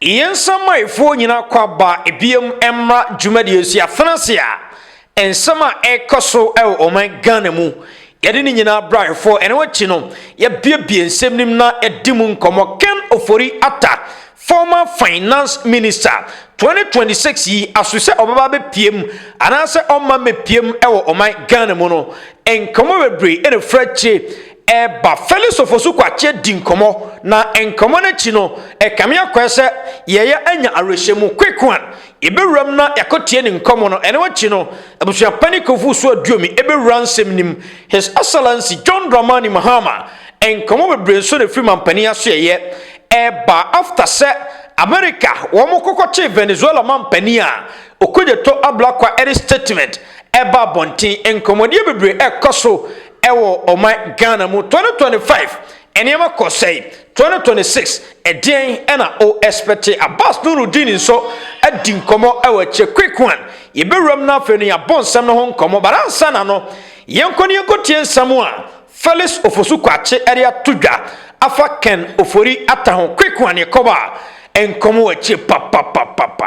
Yɛn nsamayɛfoɔ nyina kɔ aba biom mmra dwumadie nso yɛafena ase a nsɛm a ɛkɔ so ɛwɔ ɔman Ghana mu yɛde ne nyina bra ayɛfoɔ ɛno akyi no yɛabiebie nsɛm nim na yɛadi mu nkɔmɔ Ken Ofori Atta former finance minister 2026 yi aso sɛ ɔbɛba abɛpiem anaasɛ ɔmma mmɛpiem ɛwɔ ɔman Ghana mu no nkɔmɔ bebree ɛna firi akyire Ɛba Fɛlɛsofo so Kwakye di nkɔmmɔ, na nkɔmmɔ no akyi no, ɛkame akɔɛ sɛ yɛɛyɛ anya awerɛhyɛmu. Quequan, yɛbɛwuram na yɛakɔtie ne nkɔmmɔ no. Ɛno akyi no, Abusua Panin Kofosu Aduomi bɛwura nsɛm no mu. His Excellency John Dramani Mahama, nkɔmmɔ bebree nso na ɛfiri Mampanin Asoɛeɛ. Ɛba after sɛ Amerika wɔn kɔkɔkyee Venezuela Mampanin a Okojeto Ablakwa de statement baa abɔnten. Nkɔmmɔdeɛ bebree ɛkɔ so Ɛwɔ ɔman Ghana mu twenty twenty five nneɛma kɔ sɛe twenty twenty six ɛdeɛn ɛna o ɛspɛte Abass Nurudeen nso adi nkɔmɔ ɛwɔ akyire quick one yɛbɛwuram na afei no yɛabɔ nsɛm no ho nkɔmɔ but ansa na no yɛnkɔ no yɛnkɔ tie nsɛm a Felix Ofosu Kwakye ɛde ato dwa afa Ken Ofori Atta ho quick one yɛkɔba nkɔmɔ wɔ akyire papapapapa.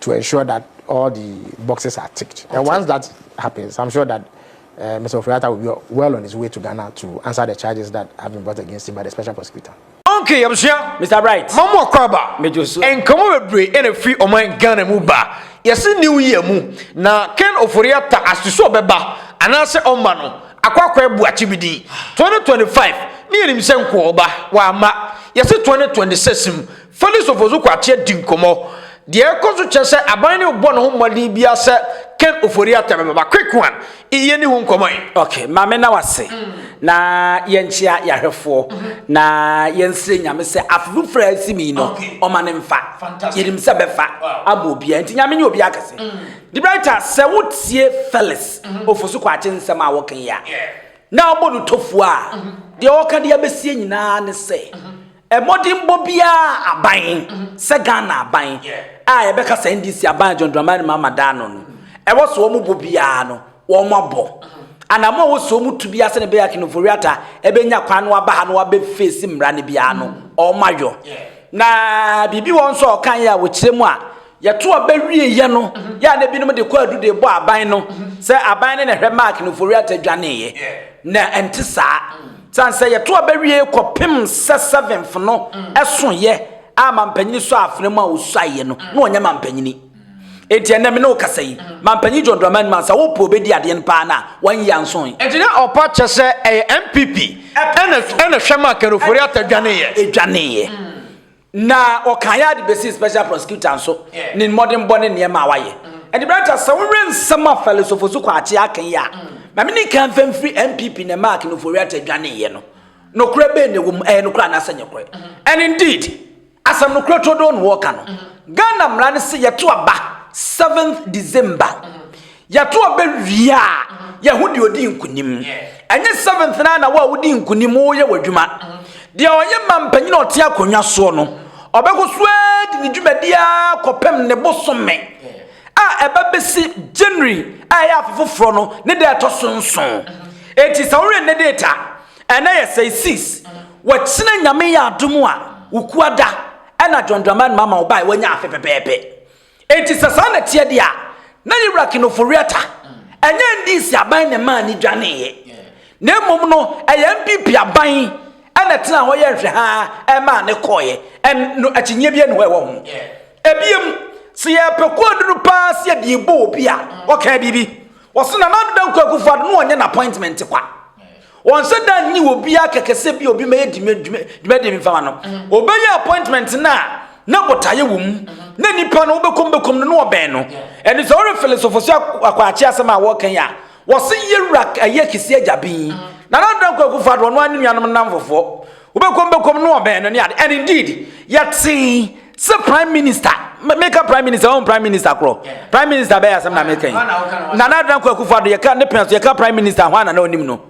to ensure that all the boxes are ticked. And once that happens, I'm sure that uh, Mr. Ofriata will be well on his way to Ghana to answer the charges that have been brought against him by the special prosecutor. Okay, Yabusua. Mr. Bright. Mamu Akwaba. Mejosu. Nkomo bebre ene fi oman Ghana mu ba. Yesi new year mu. Na Ken Oforiata asusu obeba. Anase omba no. Akwa akwa ebu achibidi. 2025. Ni enim se nko oba. Wa ama. Yesi 2026 mu. Felix Ofosu-Kwakye di nkɔmmɔ. Deɛ ɛrekɔ so kyerɛ sɛ aban no rebɔ ne ho mmɔden biara sɛ Ken Ofori-Atta bɛba. Quick one, E yɛnni ho nkɔmmɔ e. Ok, ma me na w'ase na yɛnkyea y'ahwɛfoɔ na yɛnsrɛ Nyame sɛ afe foforɔ a ɛresim yi no ɔma no mfa. Yɛnim sɛ bɛfa ama obiara nti Nyame nyɛ obiara kɛse. Debrighter, sɛ wo tie Felix Ofosu-Kwakye nsɛm a wɔka yi a na wobɔ no tofuo a, deɛ ɔreka de abɛsie nyinaa ne sɛ Mmɔdenbɔ biara a aban, sɛ Ghana aban a yɛbɛka sɛ NDC aban a John Dramani Mahama da ano no, ɛwɔ sɛ wɔbɔ biara no, wɔabɔ. Anammɔn a ɛwɔ sɛ wɔtu biara sɛnea ɛbɛyɛ a Ken Ofori-Atta bɛnya kwan na waba ha na wabɛfeesi mmara no biara no, wɔayɔ. Na biribi wɔ hɔ nso a ɔkaeɛ a wɔkyerɛ mu a Yɛto aba wieeɛ no, yɛ a na binom de kwaadu de bɔ aban no sɛ aban no na ɛhwɛ Mark no Foriata dwaneeɛ. Na ɛnte saa. Sane sɛ yɛto aba wie kɔpem sɛ seventh no ɛsoeɛ a mampanyini sɔ afena mu a ɔsuaeɛ no, na ɔnyɛ mampanyini. Enti ɛnɛ me ne wo kasa yi, Mampanyini John Dramani Mansa, wo po bɛdi adeɛ no paa no a, wanyɛ ansoe. Enti na ɔpa kyɛ sɛ ɛyɛ NPP ɛna ɛhwɛ Mark no Foriata dwaneeɛ. Dwaneeɛ. Na ɔkan yɛ ade besii Special Prosecutor nso ne mmɔdenbɔ ne nneɛma a wayɛ. Ɛnde Branta, sɛ wohwɛ nsɛm a Fɛlix Ofosu-Kwakye aka yi a, ma menni kan mfa mfiri NPP ne Mark Noforiata adwaneeɛ no. Nokorɛ bɛn na ɛwɔ mu, ɛyɛ nokorɛ anaasɛ ɛnyɛ nokorɛ? And indeed, asɛm nokorɛ turodoo na wɔreka no. Ghana mmara no se yɛto aba seventh December. Yɛto aba wie a, yɛho deɛ ɔdi nkunim. Ɛnyɛ seventh na na wo a wodi nkunim woyɛ w'adwuma. Deɛ ɔyɛ ma mpanyin a ɔte akonnwa soɔ no, ɔbɛkɔ so ara di ne dwumadi ara kɔpem ne bosome a ɛba bɛsi January a ɛyɛ afe foforɔ no ne da ɛtɔ so nson. Enti sɛ woyɛ nnɛ date a, ɛnɛ yɛ sɛe sis, wakyina Nyame yɛ adom a, wo kuada ɛna John Dramani Mahama ɔbae wanya afe pɛpɛɛpɛ. Enti sɛ saa na ɛteɛ deɛ a, na Yewura Kinofo Reatta, ɛnyɛ NDC aban na ɛmaa no dwaneeɛ, na mmom no ɛyɛ NPP aban na ɛtenaa hɔ yɛɛ nhwɛhaa maa no kɔeɛ. Ɛn, no akyinnyeɛ biara nni hɔ a ɛwɔ ho. Ebiem, sɛ yɛpɛ koodu no pa ara sɛ yɛde rebɔ obi a, ɔkaa biribi. Ɔse Nana Ado Dankwa Akufo-Addo na ɔnyɛ n'appointment kwa. Ɔnnsɛ da nnye obiara kɛkɛ sɛ bi obi mɛyɛ dwumadie bi mfama no. Ɔbɛyɛ appointment no a, na botaeɛ wɔ mu. Na nipa no wobɛkɔ mu bɛkɔ mu no na ɔbɛn no. Ɛno sɛ worefele sofosue akwaakye asɛm a wɔreka yi a, wɔse yɛwura ɛyɛ kɛsi agya bin. Na na dɔn kwaku fa do ɔno ara ne nuanom nnamfofoɔ. Wobɛkɔ mu bɛkɔ mu na ɔbɛn no ne ade. And indeed, yɛtee. sɛ prime minister meka prime minister ɔn prime minister korɔ prime minister bɛyɛ asɛm na meka yi nana adan kɔ akufo ado yɛka ne pɛn so yɛka prime minister ho ana na ɔnim no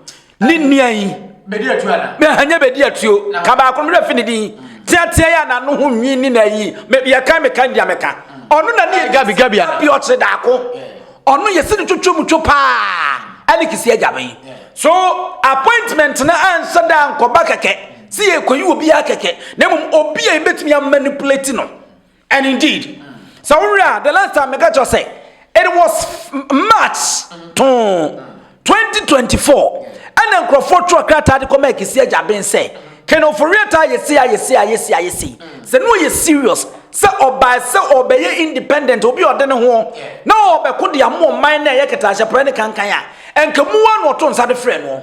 ne nua yi ɛhanyɛ bɛdi atuo ka baako no fi ne din teatea yɛ anano ho nwi ne na yi yɛka meka ndia meka ɔno na ne gabi gabi ana bi ɔkyerɛ daako ɔno yɛsi ne twotwo mu two paa ɛne kisi agya bɛn so appointment na anhyɛ da nkɔba kɛkɛ Sɛ yɛrekɔyi obiara kɛkɛ, na mmom obi a yɛbɛtumi amanipulate no. And indeed, sɛ wohwɛ a, the last time meka kyerɛ sɛ, it was March too 2024, ɛna nkurɔfoɔ twerɛ krataa de kɔma Akisi Agyaben sɛ, Ken Ofori-Atta ayɛ sei, ayɛ sei, ayɛ sei, ayɛ sei. Sɛ na ɔyɛ serious sɛ ɔbae sɛ ɔrebɛyɛ independent, obi a ɔde ne ho na ɔrebɛko de ama ɔman no a ɛyɛ kɛtɛahyɛprɛ ne kankan a, ɛnka mu ara na ɔto nsa de frɛɛ noɔ.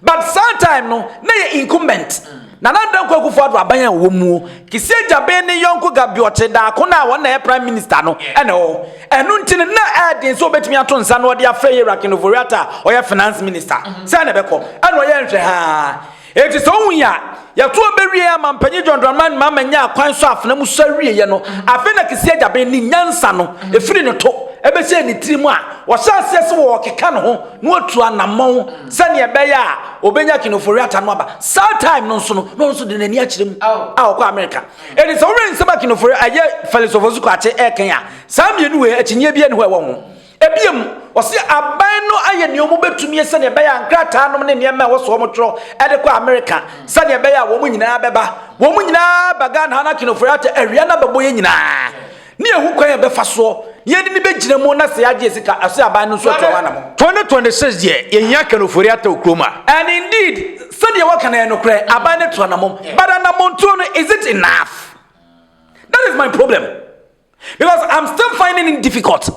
But saa time no na yɛ incumbent Nana Dankwa Akufo-Addo aban a ɔwɔ muo, Kissie Gyabin ne yɔnko Gabiɔkye Darko no a wɔn na ɛyɛ Prime Minister no na ɛwɔ hɔ. Ɛno nti no na ɛyɛ den sɛ ɔbɛtumi ato nsa na ɔde afrɛ Yɛwura Ken Ofori-Atta a ɔyɛ Finance Minister sɛ na ɛbɛkɔ. Ɛna ɔyɛ nhwɛhaa. Enti sɛ wohu yi a, Yɛtoa bɛ wiee a Mampanyin John Dramani Mahama nyaa kwan sɔɔ afena mu sɔre wieɛ no, afei na Kisi Agyaben ne nyansa no firi ne to bɛhyɛɛ ne tiri mu a ɔhyɛɛ aseɛ sɛ ɔɔkeka ne ho na watu anammɔn sɛdeɛ ɛbɛyɛ a ɔbɛnya King Ofori-Atta no aba. Saa time no nso no na ɔno nso de n'ani akyerɛ mu a ɔkɔ Amerika. Enti sɛ wo wɛn nsɛm a King Ofori, ɛyɛ Felix Ofosu-Kwakye ɛɛkɛn a, saa mmienu wei akyinnyeɛ biara nni hɔ a ɛwɔ ho. Bio, wɔse aban no ayɛ nea wɔbɛtumie sɛnea ɛbɛyɛ a nkrataanom ne nneɛma a ɛwɔ so wɔtwerɛ de kɔ Amerika sɛnea ɛbɛyɛ a wɔn nyinaa bɛba. Wɔn nyinaa ba Ghana ha na King of Werrato awia no abɛbɔ yɛn nyinaa ne ahu kwan a yɛbɛfa soɔ na yɛde no bɛgyina mu na sɛ yɛagye yɛn sika a, ɔse aban no nso atu ho anamɔ. 2026 deɛ, yɛhia Ken Ofori Atta wɔ kurom a. And indeed, sɛdeɛ wɔka no ɛyɛ nokorɛ, aban no atu anamɔm, but anamɔntuo no, is it enough? That is my problem. because i'm still finding it difficult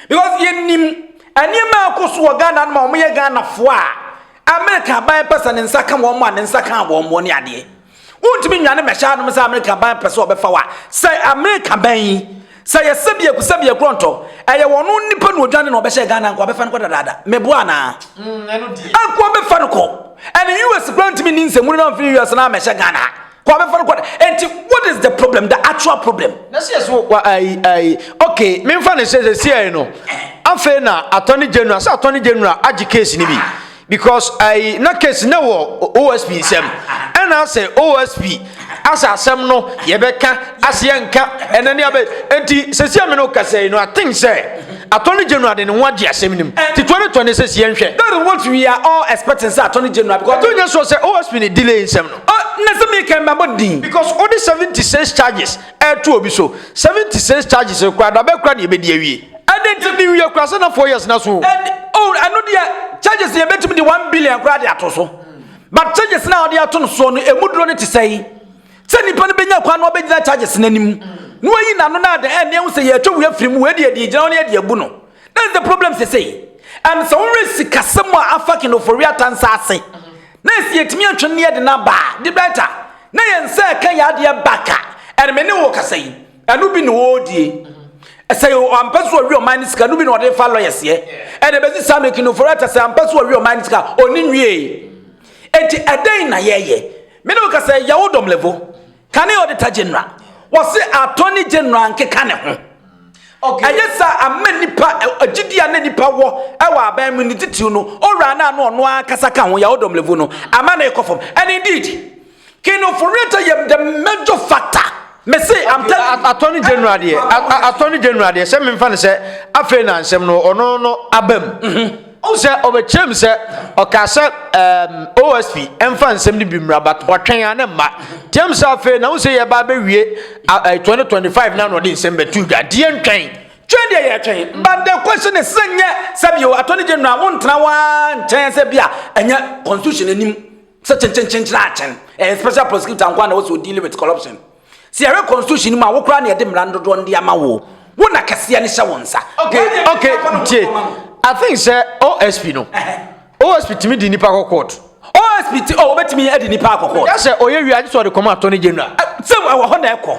because yɛnim nneɛma a ɛkɔ so wɔ ghana no ma wɔyɛ ghanafoɔ a amerika aban pɛ sɛ ne nsa ka wɔn a ne nsa ka wɔn wɔn ne adeɛ wontumi nwane mmɛhyɛ anom sɛ amerika aban pɛ sɛ ɔbɛfa wa sɛ amerika ban yi sɛ yɛsɛ biaku sɛ biaku ɔntɔ ɛyɛ wɔn nipa na odwane na ɔbɛhyɛ ghana nko abɛfa no kɔ dadaada meboa anaa mm, ɛko abɛfa no kɔ ɛne us kura ntumi ne nsɛmuni na ɔmfiri us na amɛhyɛ ghana Kwa bɛfa no kwa no. Enti what is the problem? The actual problem. Na sɛ yɛso wa ayi ayi okay memfa ne sɛ sɛ siai no afei na attorney general sɛ attorney general agye case no bi because ayi na case na wɔ OSP nsɛm ɛna sɛ OSP asɛ asɛm no yɛbɛka aseɛ nka ɛna ne abɛ enti sɛ siai me no kasa yi no I think sɛ attorney general de ne ho agye asɛm no mu ti 2020 sɛ siɛ nhwɛ. That is what we are all expecting sɛ attorney general because. Ɛto nyɛ so sɛ OSP ne delay nsɛm no. Ah na sɛ meka mɛbɔ din. Because wode seventy cents charges ɛɛto obi so, seventy cents charges no koraa dabɛn koraa na yɛbɛdi awie? Ɛdɛn nti na ewie koraa sɛ na four years na so o? Ɛde oh ɛno deɛ charges no yɛbɛtumi de one billion koraa de ato so but charges no a wɔde ato no soɔ no ɛmu duro no te sɛn? Sɛ nipa no bɛnya kwan na ɔbɛgyina charges no anim na wayi n'ano no a dɛn ɛnneɛ ho sɛ yɛatwa wei afiri mu wei deɛ yɛde agyina hɔ na yɛde abu no. That's the problem sesei. And sɛ wowerɛ sikasɛm a afa King Ofori-Atta nsa ase, na ɛsɛ yɛtumi atwe ne yɛde no aba a, the better. Na yɛn nsa ɛka yɛn adeɛ back a, and me ne wo kasa yi, ɛno bi na ɔredie. Sɛ ampɛ so ɔwe ɔman no sika, ɛno bi na ɔde fa lawyers yɛ. And ɛbɛsi saa mmerɛ King Ofori-Atta sɛ ampɛ so ɔwe ɔman no sika, ɔne nwie. Enti ɛdɛn na yɛyɛ? Me ne wo kasa yi, yɛwo dɔm level. Kane Auditor General, wɔse Attorney General nkeka ne ho. ɛyɛ sɛ ama nipa agyidi a na nipa wɔ ɛwɔ aban mu ne titiriw no owura no a na ɔno ankasa ka ho yawo dɔmlevu no ama na ɛkɔ fam and indeed kino foriata yɛ the major factor me se i'm telling attorney general deɛ attorney general deɛ sɛ memfa no sɛ afei na nsɛm no ɔno no abam mm-hmm. Wohu sɛ ɔbɛkyerɛ mu sɛ ɔkaa sɛ um, OSP ɛmfa nsɛm no bi mmra but ɔtwɛn a ne mma tiam sɛ afei na wo sɛ yɛba abɛwie uh, uh, 2025 na na ɔde nsɛm bɛto dwa deɛ ntwɛn twɛn deɛ yɛtwɛn but the question is sɛ nyɛ sɛ bio attorney general wontena waa nkyɛn sɛ bi a ɛnyɛ constitution anim sɛ kyenkyenkyenkyena akyɛn ɛyɛ special prosecutor nkoa na wɔ sɛ ɔdeal with corruption Sɛ yɛhwɛ constitution no mu a, wo koraa na yɛde mmara no dodoɔ no de ama wo. Wo na kɛseɛ no hyɛ wo nsa. Okay, okay, tie. I think sɛ OSP no, OSP tumi di nipa kɔ court. OSP ti, oh, obetumi adi nipa akɔ court. Ɛka sɛ ɔyɛ wia, sɛ ɔde kɔma attorney general. Sɛ ɛwɔ hɔ na ɛkɔ.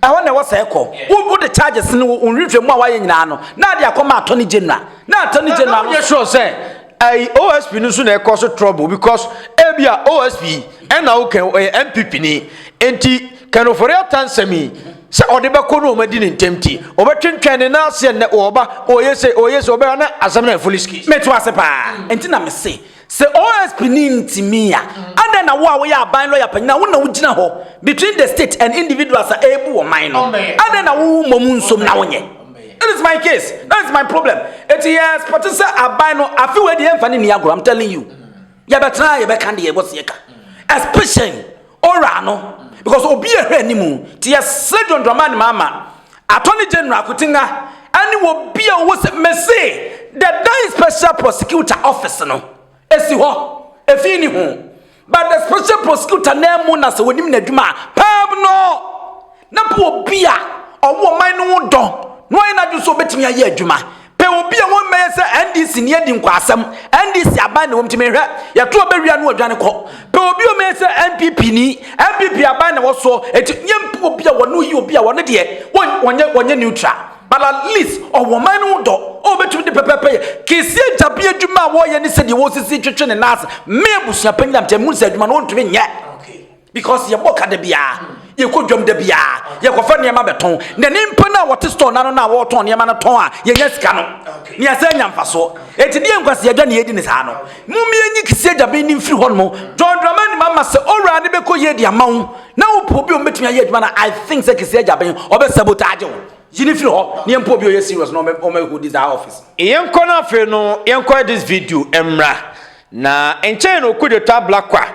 Ɛhɔ na ɛwɔ sɛ ɛkɔ. Wo wo de charges no, wo nhwehwɛ mu a wayɛ nyinaa no, na ade akɔma attorney general. Na attorney general no. Yɛ sure sɛ Ɛy OSP no nso na ɛkɔ so trouble because ebia OSP ɛna wo kɛn ɔyɛ NPP ni nti kɛn ofori ata nsɛm yi sɛ ɔde bɛkɔ no wɔn adi ne ntɛm ti ɔbɛtwentwɛn ne nan aseɛ nnɛ ɔba ɔyɛ sɛ ɔyɛ sɛ ɔbɛyɛ na asɛm na ɛfoli ski. Mɛto ase paa nti na me se sɛ OSP ni nti mi ya adɛn na wo a woyɛ aban lɔya panyin a wo na wo gyina hɔ between the state and individuals a ɛɛbu wɔn man no adɛn na wo wo mmɔ mu nsom na wo nyɛ. That is my case. That is my problem. Eti yɛ expect sɛ aban no afi wɔ deɛ nfa ne ni agorɔ. I'm telling you. Yɛ bɛ tena yɛ bɛ kan deɛ yɛ bɔ seɛ ka. Especially ora no because obi yɛ hwɛ animu. Ti yɛ sɛ John Dramani Mahama, Attorney General Akutinga, ɛne wɔ bi a wɔ sɛ mese the dying special prosecutor office no esi hɔ efi ni ho. But the special prosecutor nan mu na sɛ wɔnim n'adwuma a, pɛɛm no, na pɛ obi a ɔwɔ ɔman no ho dɔ na wayɛ n'adwene sɛ ɔbɛtumi ayɛ adwuma. Pɛ obi a wɔmmɛyɛ sɛ NDC ni adi nkwaasɛm, NDC aban na ɛwɔ mu nti mehwɛ, yɛto ɔbɛ wie a na wadwane kɔ. Pɛ obi a ɔmmɛyɛ sɛ NPP ni, NPP aban na ɛwɔ soɔ, enti yɛmpɛ obi a wɔne ɔyɛ obi a ɔno deɛ ɔnyɛ neutral. But at least ɔwɔ ɔman no ho dɔ a obetumi de pɛpɛɛpɛ yɛ. Kesi agya bi adwuma a wɔyɛ ne sɛdeɛ wɔsisi twetwe ne nan ase. Me abusua panyin a mete mu sɛ adwuma no wɔntumi nyɛ. Because yɛbɔ ka da biara, yɛkɔ dwam da biara, yɛkɔfa nneɛma bɛtɔn. Na nipa no a wɔte store no ano no a wɔretɔn nneɛma no tɔn a yɛnya sika no, na yɛsan nya mfasoɔ. Enti deɛ nkwaseɛ dwa na yɛdi ne saa no. Mom yɛnyi Kesi agya bi no mfiri hɔnom. John Dramani Mahama sɛ owura no bɛkɔ yie de ama wo. Na wo pɛ obi a ɔbɛtumi ayɛ adwuma no I think sɛ Kese Agyaben ɔbɛ sabotage wo. Yi no firi hɔ na yɛmpɛ obi a ɔyɛ serious na ɔmɛ hodi saa office no. Yɛnkɔ na afei no yɛnkɔ this video mmra. Na nkyɛe no Okudzeto Ablakwa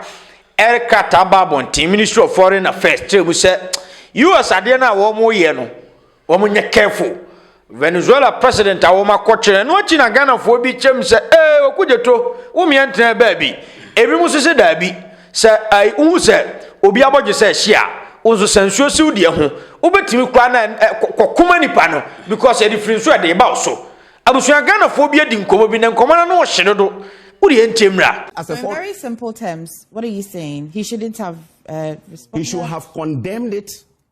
ɛde krataa baa abɔnten Ministry of Foreign Affairs kyerɛɛ mu sɛ US adeɛ no a wɔreyɛ no Wɔn nyɛ careful. Venezuela president a wɔn akɔ kyerɛ no akyi na Ghanafoɔ bi kyɛm sɛ ee Oku Gyeto wo meɛ ntenaa baabi. Ebinom nso sɛ daabi. Sɛ ai wohu sɛ obi abɔ gye sɛ hye a wo nso sa nsuo si wo deɛ ho. Wobɛtumi koraa na ɛ kɔ kɔ kɔma nipa no because ɛde firi nso ɛde ba wo so. Abusua Ghanafoɔ bi adi nkɔmɔ bi na nkɔmɔ no ano hye dodo. Wo deɛ ntie mmra. So in very simple terms what are you saying he shouldn't have uh, responded? He should have condemned it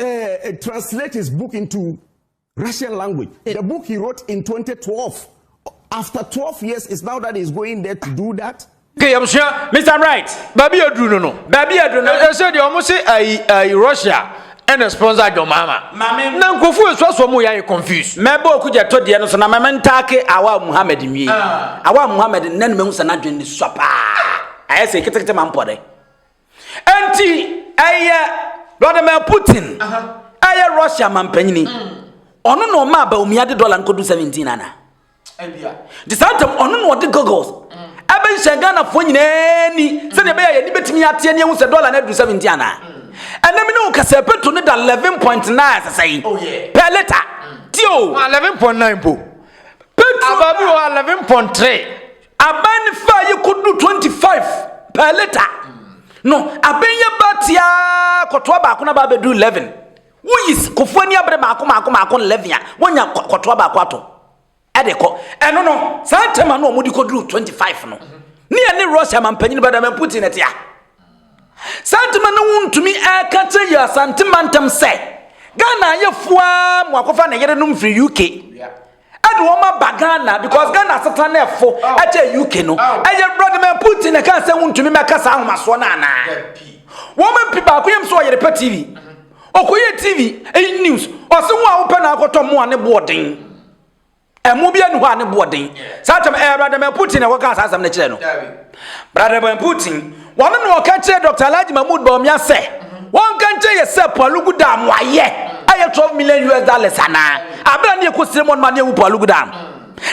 Uh, uh, translate his book into Russian language. It, the book he wrote in 2012. After 12 years, it's now that he's going there to do that. Okay, I'm sure, Mr. Right. Baby, you do no, no. Baby, you do no. I said, you almost say, I, I, Russia. ɛna sponsor adwɔ maama na nkurɔfo esu aso mu yɛ ayɛ confused. mɛbɔ oku gya tɔ deɛ no so na mɛmɛ ntaake awa muhammed nwie ah. awa muhammed nna ne mɛ nsa n'adwene ne sɔ paa ayɛ sɛ ketekete ma mpɔ dɛ. Enti ɛyɛ Vladimir Putin ɛyɛ Russia mampanyini. Mm. Ɔno na ɔmaa Bawumia de dɔla nkodu 17 ana. Nti saa ntam ɔno na ɔde goggles mm. ɛbɛnhyɛ Ghanafoɔ nyinaa ni sɛdeɛ ɛbɛyɛ yɛni bɛtumi ateɛ ne ɛhu sɛ dɔla no aduru 17 ana. Mm. Ɛnɛ mi ne wo kasɛ petro ne da 11.9 sɛsɛ yi oh, per liter. Tio. 11.9 po. Petro. Ababi wɔ 11.3. Aban no faa yi kodu 25 per liter no aben yɛ ba tiaa kɔtoa baako na ba abɛduru 11 woyi kofo ani abere maako maako maako 11 a wonya kɔtoa baako atɔ ɛde kɔ ɛno no saa ntɛm ano wɔn de kɔduru 25 no ne yɛ ne Russia mampanyin Vladimir Putin ɛte a saa ntɛm ano wontumi ɛka kyerɛ yɛ asante mantam sɛ Ghana ayɛ fua mu akɔfa ne yere nom firi UK ɛde wɔn aba ghana because ghana aseta no ɛfo ɛkyɛ uk no ɛyɛ vladimir putin na ɛka sɛ wontumi mɛka saa ahomasoɔ no anaa wɔn mpi baako yam sɛ ɔyere pɛ tv ɔkɔyɛ mhm. tv ɛyi news ɔse ho a wopɛ na akɔtɔ mo a ne boɔden ɛmo bi ani hɔ a ne boɔden saa kyɛm ɛyɛ vladimir putin na ɛkɔka saa asɛm no kyerɛ no Brada Ben Putin, wɔno na ɔka kyerɛ Dr. Alhaji Mahmoud Bawumia sɛ wɔnka nkyerɛ yɛ sɛ Palugu Dam no ayɛ ɛyɛ 12 million US dollars anaa abira ne ɛkɔsire mu ɔnoma ne ɛwu Palugu Dam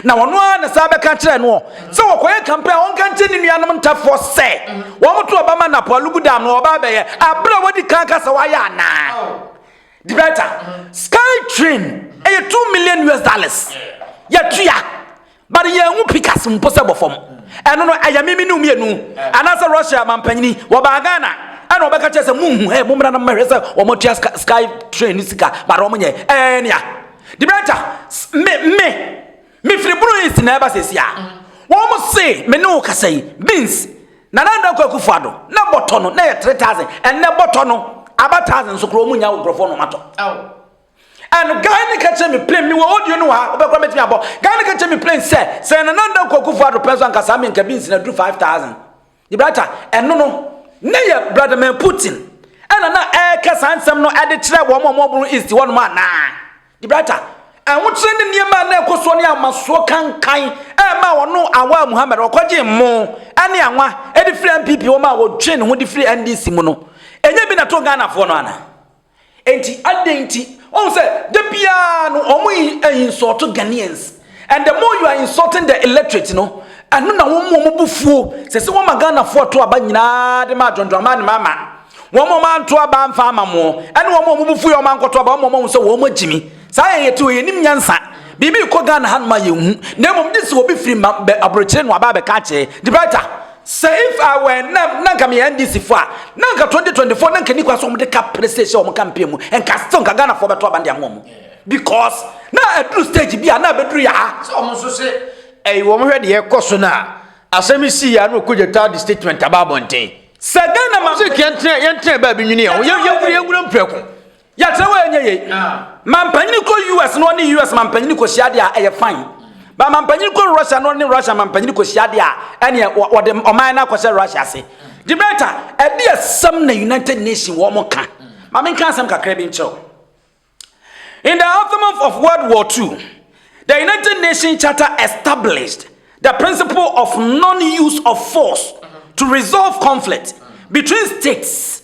na wɔno ara na saa bɛka kyerɛ no sɛ wɔkɔyɛ kampe a wɔnka nkyerɛ ne nuanom ntafoɔ sɛ wɔmoto ɔba ma na Palugu Dam no ɔba bɛyɛ abira wɔdi kan ka sɛ wɔayɛ anaa Dibɛta Sky Train ɛyɛ 2 million US dollars yɛtua But yɛnhu picas mpo sɛ bɔ fam. Ɛno no ɛyɛ me me ne wo mmienu anaasɛ Russia mampanyini wɔbaa Ghana ɛna wɔbɛka kyerɛ sɛ munhu ɛ mommra na mommɛhwɛ sɛ wɔatua sky train no sika but wɔnyɛ ɛɛ nea Debrenta me me mefiri Bruu East na ɛba sɛsi a wɔn se me ne wo kasa yi beans Nana Addo Akufo Addo na bɔtɔ no na yɛ 3000 ɛnɛ bɔtɔ no aba 1000 so korɔ wɔn nya nkurɔfoɔ na wɔatɔ. And guy no ka kyerɛ me plain, me wɔ audio no wɔ ha, wobɛkora mɛtumi abɔ. Guy no ka kyerɛ me plain sɛ, sɛ Nana Nda Kwaku Fo Addo pɛ nso anka saa menka beans no aduru 5000. Gibraltar, ɛno no, ne yɛ Vladimir Putin ɛna na ɛreka saa nsɛm no ɛde kyerɛ wɔn a wɔboro East hɔ nom anaa? Gibraltar, ɛhokyerɛ ne nneɛma a na ɛkɔ soɔ ne amasoɔ kankan ɛma wɔno Awaa Muhammad ɔkɔgye mmo ɛne anwa ɛde firi NPP wɔn a wɔtwe ne ho de firi NDC mu no. Ɛnyɛ bi na to Ghanafoɔ no anaa? Enti adɛn nti? Wohu sɛ da biara no wɔn insult Ghanaians and the more you are insulting the illiterate no ɛno na wɔn wɔn bu fuo sɛ sɛ wɔma Ghanafoɔ ato aba nyinaa de ma adwondwama ne mama wɔn wɔn anto aba amfa ama mo ɛne wɔn wɔn bu fuo yɛ wɔn ankɔto aba wɔn wɔn ahu sɛ wɔn agyimi saa yɛ yɛte yɛ nim nyansa biribi kɔ Ghana hanom a yɛnhu na mmom de sɛ obi firi ma bɛ aburokyire no aba abɛka akyɛ de brighter Sɛ if I were nam na nka meyɛ NDC fo a na nka 2024 na nka ni kwa sɛ wɔn de ka pere sɛ ɛhyɛ wɔn campaign mu nka still nka Ghana fo bɛto aban de ama wɔn because na aduru stage bi a na abɛduru yɛ ha sɛ wɔn nso se ɛyi wɔn hwɛ deɛ ɛkɔ so no a asɛm yi sii yɛ a na ɔkɔgya taa de statement aba abɔnten sɛ Ghana ma sɛ yɛntena yɛntena baabi nwini yɛn ho yɛwura yɛwura mprɛko Yɛakyerɛ wɔ ɛnyɛ yei. Mampanyini kɔ US na ɔne US mampanyini kɔhyia deɛ a ɛyɛ fine. Ba mampanyini kɔ Russia na ɔne Russia mampanyini kɔhyia deɛ a ɛneɛ wɔde ɔman no akɔhyɛ Russia ase. Debata, ɛde asɛm na United Nations wɔn ka. Ma menka asɛm kakra bi nkyerɛw. In the aftermath of World War II, the United Nations Charter established the principle of non-use of force to resolve conflict between states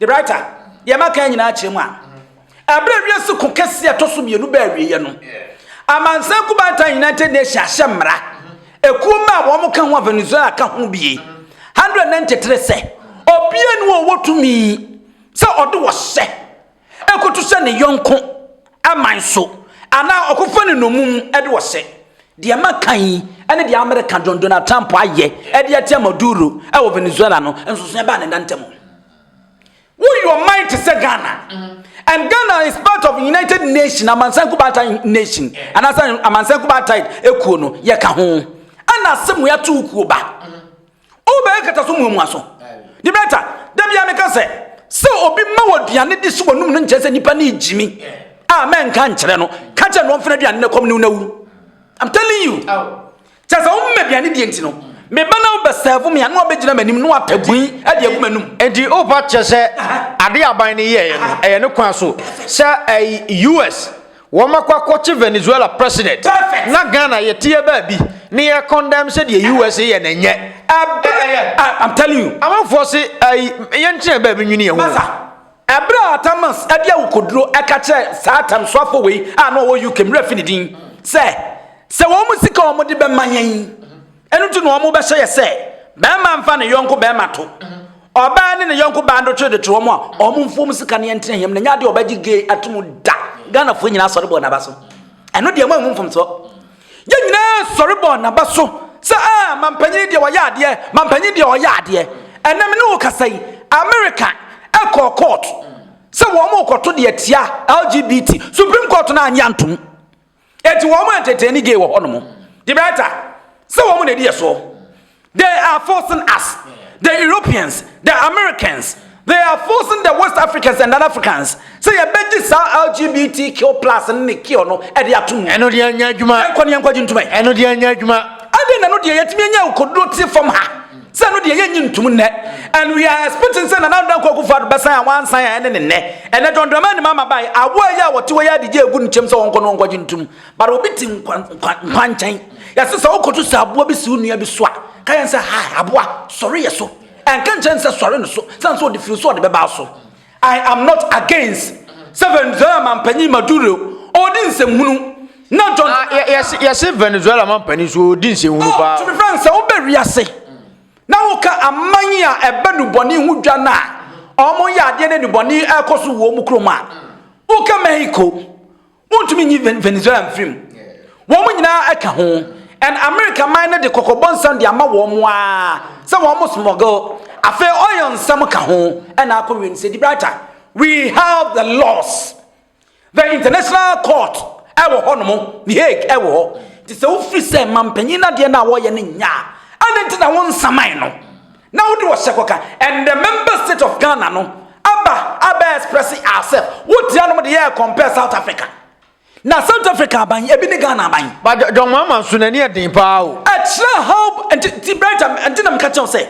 Gibraltar, deɛ maka yi nyinaa kyerɛ mu a, ɛberɛ a wiase ko kɛseɛ ɛtɔ so mmienu baa awieɛ no, amansan kubantan United Nations ahyɛ mmara, ekuo mma a wɔn ka ho a Venezuela ka ho bie, 193 sɛ obiara ni wɔ ɔwɔ tumi sɛ ɔde ɔhyɛ ɛkoto hyɛ ne yɔnko. man so, anaa ɔkɔfa no nnommum de ɔsɛ. Deɛ maka yi ne deɛ Amerika John Donald Trump ayɛ de atia Maduro wɔ Venezuela no nsonsonoɛ baa ne nna ntam. Woyi ɔman te sɛ Ghana, and Ghana is part of United Nation amansan kubaatae nation anaasɛ amansan kubaatae ekuo no yɛka ho, ɛna asɛm wei ato wo kuo ba. Oh, bɛyɛ nkataso muamuaso. De bɛyɛ ta. Da bia meka sɛ, sɛ obi ma wɔ aduane de si w'anum no nkyerɛ sɛ nipa ne gyimi. A mɛnka nkyerɛ no. Ka kyerɛ no ɔmfena aduane no kɔm ne wonawuru. I'm telling you. Kyɛ sɛ womma aduane deɛ nti no. Meba na wobɛsɛvo me a na wabɛgyina m'anim na wapɛbui de agu m'anum. Enti wopa kyɛ sɛ ade aban no yɛɛ no ɛyɛ ne kwan so sɛ ɛyi US Wɔakɔ akɔkye Venezuela president na Ghana yɛteɛ baabi ne yɛ condemn sɛ deɛ USA yɛ no nyɛ ɛbɛɛyɛ. Ah I'm telling you. Amanfoɔ se ayi yɛntena baabi nwini yɛ ho. Masa, ɛberɛ a Atamas de awokoduro ka kyerɛɛ saa atɛmsoafoɔ wei a na ɔwɔ UK, me werɛ afi ne din, sɛ, sɛ wɔn sika a wɔde bɛma yɛn, Ɛno nti na wɔbɛhyɛ yɛ sɛ barima mfa ne yɔnko barima to, ɔbaa ne ne yɔnko baa ndotwe de to wɔn a, wɔn mfuom sika ne ɛntena hiam na nyɛ adeɛ wɔbɛgye gay ato mu da. Ghanafoɔ nyinaa sɔre bɔɔ n'aba so. Ɛno deɛ moanhu mfomsoɔ. Yɛn nyinaa sɔre bɔɔ n'aba so sɛ a ah, mampanyini deɛ ɔyɛ adeɛ, mampanyini deɛ ɔyɛ adeɛ. Ɛnɛ me ne wo kasa yi, America ɛkɔɔ court sɛ wɔn kɔto deɛ tia LGBT. Supreme Court no anyɛ antom. Enti wɔn entertaini gay wɔ hɔnom. Gibraltar, sɛ wɔn na edi yɛ soɔ. They are forcing us, the Europeans, the Americans, they are forcing the West Africans and other Africans sɛ yɛbɛgye saa LGBTQ plus no ne kill no ɛde ato mu. Ɛno deɛ ɛnyɛ adwuma. Yɛnkɔ ne yɛnkɔgye ntoma yi. Ɛno deɛ ɛnyɛ adwuma. Adɛn na ɛno deɛ yɛtumi anya akokoduro te fam ha? Sɛ ɛno deɛ yɛnyi ntom nnɛ and we are expecting sɛ Nana Addo Dankwa Akufo-Addo bɛsan a wansan a ɛne ne nnɛ. Ɛnɛ John Dramani Mahama baeɛ awoɔ yi a wɔte hɔ yi adigye agu ne kyɛm sɛ ɔnkɔ na ɔnkɔgye ntom but obi te nkwa nkwa nkwa nkyɛn. Yɛse sɛ wokɔto sɛ aboa bi si wo nua bi so a ka yɛn sɛ hi aboa sɔre yɛ so ɛnka nkyerɛ no sɛ sɔre no so sane sɛ ɔde firi so ɔde bɛba wo so. I am not against sɛ Venezuela mampanyin Maduro ɔredi nsɛmhunu na John. Ah, yɛse yɛse Venezuela mampanyin so ɔredi nsɛmhunu oh, paa. To be frank, sɛ wobɛ wiase na woka aman yi a ɛbɛ nubɔne ho dwa no a wɔn yɛ adeɛ ne nubɔne ɛkɔ so wɔ wɔn kurom a woka Mexico. Wontumi nyi Venezuela mfiri mu. Wɔn nyinaa ɛka ho. And America man no de kɔkɔbɔ nsɛm de ama wɔn aa sɛ wɔn smuggle. Afei oil nsɛm ka ho ɛna akɔ wie no sɛ Gibraltar. We have the laws. The international court ɛwɔ hɔ nom. The Hague ɛwɔ hɔ. Nti sɛ wofiri sɛ mampanyin no adeɛ no a wɔyɛ no nyɛ a, ɛne nti na wɔnsaman no. Na wode ɔhyɛ kɔka and the member state of Ghana no aba abɛ express ourself wotia nom de yɛɛ compare South Africa na South Africa aban ebi ne Ghana aban. Ba John Mahama nso n'ani yɛ den paa o. Ɛkyerɛ how nti nti Brighter nti na meka kyɛw sɛ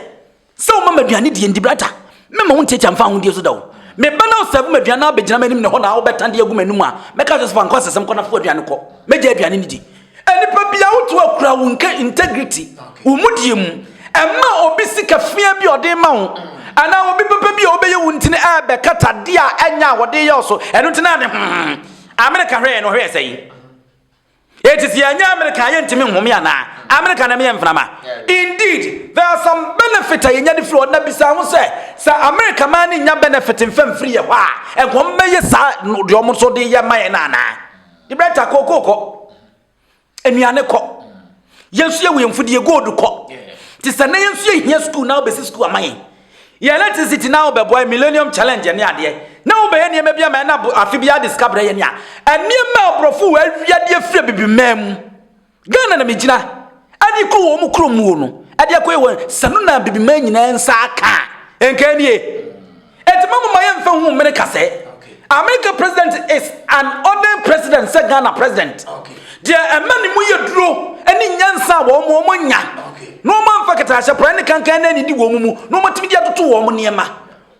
sɛ woma m'aduane die nti Brighter mɛma wo ntiatia mfa ahodie so da o. Meba na ɔsɛbo m'aduane na abɛgyina m'anim ne hɔ na wobɛtande agu m'anim a mɛka kyerɛ sɛ fa nkɔ asɛsɛm kɔ na fa w'aduane kɔ. Mɛgya aduane no di. Nipa bia wotu akura wo nke integrity wo mudie mu ɛma obi sika fia bi ɔde ma wo anaa obi papa bi a ɔbɛyɛ wo ntini ɛbɛkata de a ɛnya a wɔde yɛ so ɛno nti na ne hmm Amerika hwɛ yɛ no hwɛ sɛ yi It is yɛnyɛ America yɛ ntimi nhome anaa America na meyɛ mframa. Indeed, there are some benefit a yɛnya de firi hɔ na bisa ho sɛ sɛ America maa ne nya benefit mfa mfiri yɛ hɔ a nkɔm bɛyɛ saa deɛ ɔmo nso de yɛ ma yɛ no anaa. Debrɛta kɔ kɔ kɔ nnuane kɔ yɛnso yɛ wɛn fudie gold kɔ te sɛ na yɛnso yɛ hia sukuu na wobɛsi sukuu ama yɛn yɛ electricity na wobɛboa millennium challenge ne adeɛ na wobɛyɛ nneɛma bi ama ɛna afe bi ade sika brɛ yɛn a nneɛma aborɔfo wɔ awiadeɛ firi bibi mmaa mu Ghana na me gyina ɛde kɔ wɔn kuro mu no ɛde akɔ yɛ wɔn sanu na bibiman nyinaa nsa aka nka nie ɛti ma mama yɛn fɛ hu mene kasɛ America president is an ordinary president sɛ Ghana president deɛ ɛma ne mu yɛ duro ɛne nyansa a wɔn wɔn nya na wɔn amfa katahyɛ pran ne kankan na ɛne di wɔn mu na wɔn atumi de atoto wɔn nneɛma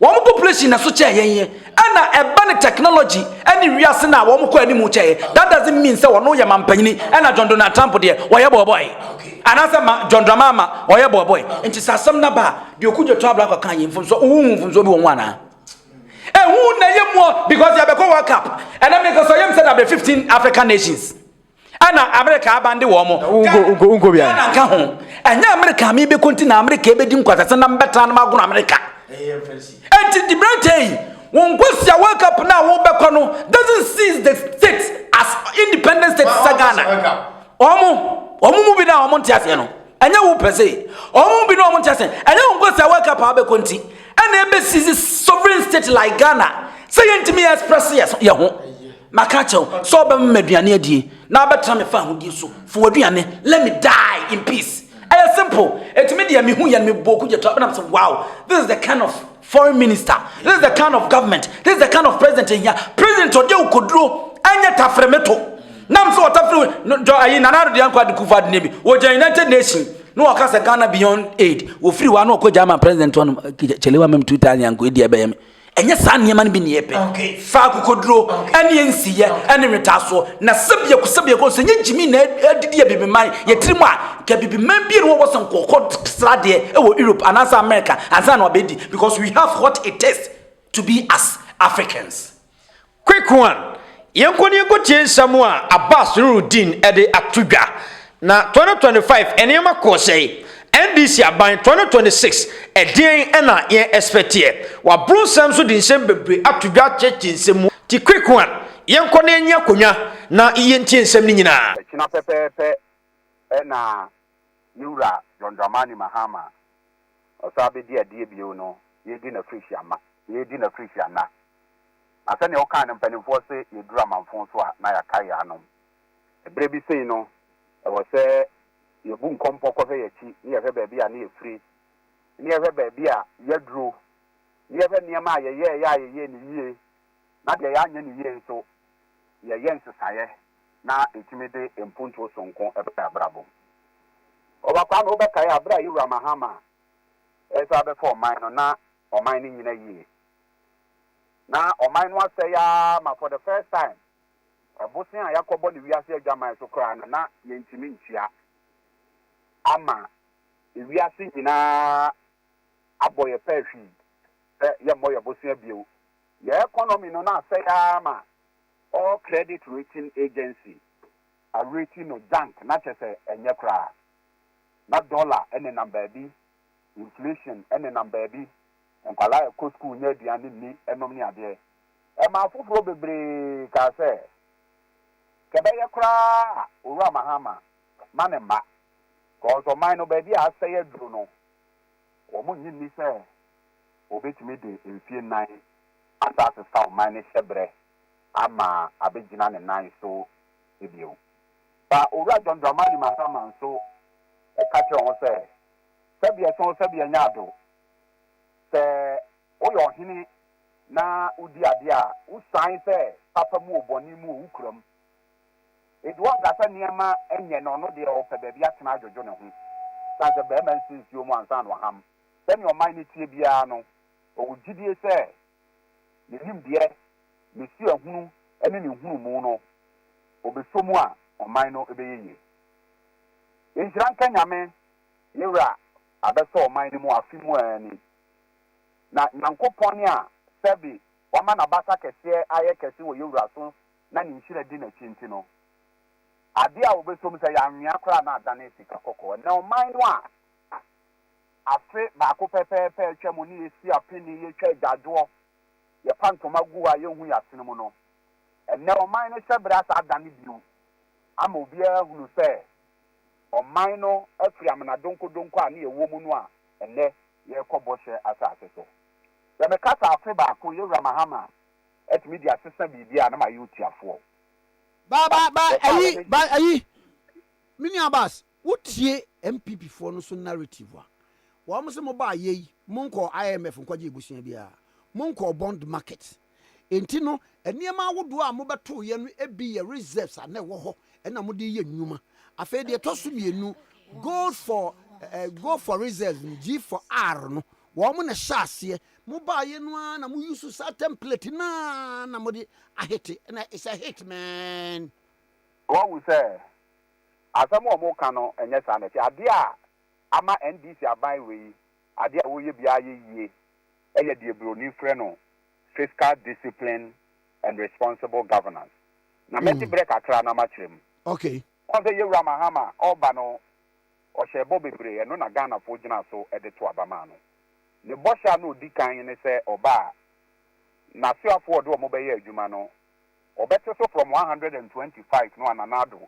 Wɔn population na ɛso kyɛn yɛn yɛ ɛna ɛba ne technology ɛne wiase na wɔn kɔ anim kyɛn yɛ that doesn't mean sɛ wɔn yɛ mampanyini ɛna John Donald Trump deɛ wɔyɛ bɔɔbɔɛ anaasɛ ma John Dramama wɔyɛ bɔɔbɔɛ nti sɛ asɛm na ba deɛ okugye to abla kɔka yɛ mfomso wohu mfomso bi wɔn ho anaa ehu na yɛ muɔ because yɛbɛkɔ World Cup ɛna mekasa yɛm sɛ dabrɛ 15 African nations Ɛna Amerika aban de wɔn. Ghana nka ho. Ɛnyɛ Amerika a mebɛkɔ nti na Amerika ɛbɛdi nkwasase na mbɛtena no magono Amerika. Ɛnti di berantɛ yi, wo nkwasia wake up no a wobɛkɔ no doesn't seize the states as independent states sɛ Ghana. Ɔmo, ɔmo mu bi na ɔmo nte aseɛ no. Ɛnyɛ wo pɛ se, ɔmo mu bi na ɔmo nte aseɛ. Ɛnyɛ wo nkwasia wake up a wobɛkɔ nti. Ɛna ɛbɛ seize sovereign state like Ghana. Sɛ yɛntumi express yɛ ho. Maka akyerɛ wo sɛ wobɛma m'aduane adie na wobɛtra me fahodie so. Fa w'aduane, let me die in peace. Ɛyɛ simple. Enti me deɛ mehu yɛn mebɔɔ ku gyato a bɛnam sɛ wow this is the kind of foreign minister, this is the kind of government, this is the kind of president yɛhia. President ɔde awukoduro ɛnyɛ tafere me to. Nam sɛ ɔtafere no dɔ ayi Nana Addo Dankwa de kufa adene bi. Wɔgya United Nation na wɔka sɛ Ghana beyond aid. Wɔfiri hɔ a na wɔkɔ gya ama president hɔ nom kyelewa mem two thousand anko ɛdi ɛbɛyɛ me. Ɛnyɛ saa nneɛma no bi na yɛpɛ. Fa akokoduro ne nsiyɛ ne nwetaasoɔ na sɛ biako sɛ biako sɛ nyɛ gyimi na adidi abibiman yɛ tirim a ka abibiman bi na wɔwɔ sɛ nkɔkɔ sradeɛ wɔ Europe anaasɛ America ansa na wabɛdi because we have what it takes to be as Africans. Quicquan, Yɛnkɔ na yɛnkɔtie nsɛm a Abbas Nuruddin de ato dwa, Na 2025 nneɛma kɔɔ sɛe? NDC aban 2026 ɛdeɛn na yɛn ɛspɛteɛ? Waboro nsɛm so de nsɛm bebree ato dwa akyerɛkyerɛ nsɛm mu Nti Quicquan, yɛnkɔ na yɛnye akonnwa na yɛntie nsɛm no nyinaa. Ɛkyena pɛpɛɛpɛ na ne wura John Dramani Mahama ɔsan bɛdi adeɛ bio no, yɛredi n'afirihyia ma, yɛredi n'afirihyia nna. Na sɛnea ɔkaa no, mpanimfoɔ se yɛduru amanfõ so a, na yɛakae yɛn anom. Ɛberɛ bi sei no, ɛwɔ sɛ yɛbu nkɔmpɔ kɔhwɛ yɛn akyi ne yɛhwɛ baabi a na yɛfiri, ne yɛhwɛ baabi a yɛaduro, ne yɛhwɛ nneɛma a yɛyɛeɛ a yɛyɛɛ no yie na deɛ yɛanyɛ no yie nso, yɛyɛ nsesaeɛ na ɛtumi de mpuntuo sononko ba yɛn abrabɔ mu. Ɔba Kwame, wobɛkae a berɛ a Yowura Mahama resan abɛfa ɔman no, na ɔman no nnyina yie. Na ɔman no asɛe ara ma for the first time ɛbosea a yɛakɔbɔ no wiase adwaman so koraa no na yɛntumi ntua ama wiase nyinaa abɔ yɛn pɛɛ hwii sɛ yɛmmɔ yɛn bosea bio. Yɛn economy no na asɛe ara ma all credit rating agency areti no junk na kyɛ sɛ ɛnyɛ koraa na dollar nenam baabi inflation nenam baabi, nkwadaa rekɔ sukuu nya aduane nni, ɛnom ne adeɛ. Ɛmaa afoforɔ bebree kaa sɛ, Sɛ ɛbɛyɛ koraa a, Owura Mahama ma ne mma, cos ɔman no baabi a asɛe aduru no, wɔn nnye nni sɛ ɔbɛtumi de mfie nnan asa asesa ɔman no hyɛbrɛ ama abɛgyina ne nan so bio. Ba Owura John Dramani Mahama nso ka kyerɛɛ wɔn sɛ, sɛdeɛ so sɛdeɛ nyɛ adew. Sɛ woyɛ ɔhene na wodi adeɛ a, wosian sɛ papa mu o, bɔne mu o, wokura mu. Enti wɔnka sɛ nneɛma nyɛ no, ɔno deɛ ɔpɛ baabi atena adwodwo ne ho. Ɛsiane sɛ barima nsi nsuo mu ansa na waham, sɛdeɛ ɔman no teɛ biara no, ɔwɔ gyidie sɛ ne nimdeɛ, ne suahunu ne ne nhunumu no, ɔbɛsɔ mu a, ɔman no bɛyɛ yie. Nhyira nka Nyame, yɛ Wura abɛsɔ ɔman no mu afe mu ara ni. Na Nyankopɔn a sɛbe wama n'abasa kɛseɛ ayɛ kɛse wɔ yɛ Wura so na ne nhyira di n'akyi nti no, adeɛ a wɔbɛsɔ mu sɛ yɛanwea koraa na adane sika kɔkɔɔ. Ɛnnɛ ɔman no a afe baako pɛpɛɛpɛ atwa mu ne yɛsi apene, yɛtwa agyaadwoɔ, yɛpa ntoma gu a yɛnhu yɛasene mu no, ɛnnɛ ɔman no hyɛberɛ asa adane bio ama obiara ahunu sɛ ɔman no afiri amena donkɔdonkɔ a na ɛwɔ mu no a ɛnnɛ yɛrekɔ bɔhyɛ asase so. Sɛ mekasa afe baako, Yɛwura Mahama atumi de asesa biribi a na mayɛ otiafoɔ. Ba ba ba ayi ba ayi me nua Abass wo tie NPP foɔ no so narrative a wɔn se mo baa yei mo nkɔɔ IMF nkɔgye abusua biara mo nkɔɔ bond market Enti no, nneɛma ahodoɔ a mobɛtoeɛ no bi yɛ reserves a na ɛwɔ hɔ na mode reyɛ nnwuma. Afei deɛ ɛtɔ so mmienu, gold for eh, gold for reserves no, G for R no, wɔn na ɛhyɛ aseɛ. Mobaeɛ no ara na moyusu saa template no ara na mode ahete, na it's a hit man. Wahu sɛ asɛm a wɔka no nyɛ saa na ɛte. Adeɛ a ama NDC aban wei Ade a wɔyɛ biara yɛ yie yɛ deɛ buroni frɛ no fiscal discipline and responsible governance. Na mɛgye berɛ kakra na makyerɛ mu. Okay. Woahu sɛ Yawura Mahama ɔreba no, ɔhyɛɛ bɔ bebree, ɛno na Ghanafoɔ gyinaa so de too aba maa no. Ne bɔhyɛ a na ɔdi kan ne sɛ ɔba a, n'asoafoɔ a ɔde wɔn bɛyɛ adwuma no, ɔbɛte so from one hundred and twenty five no a Nana Addo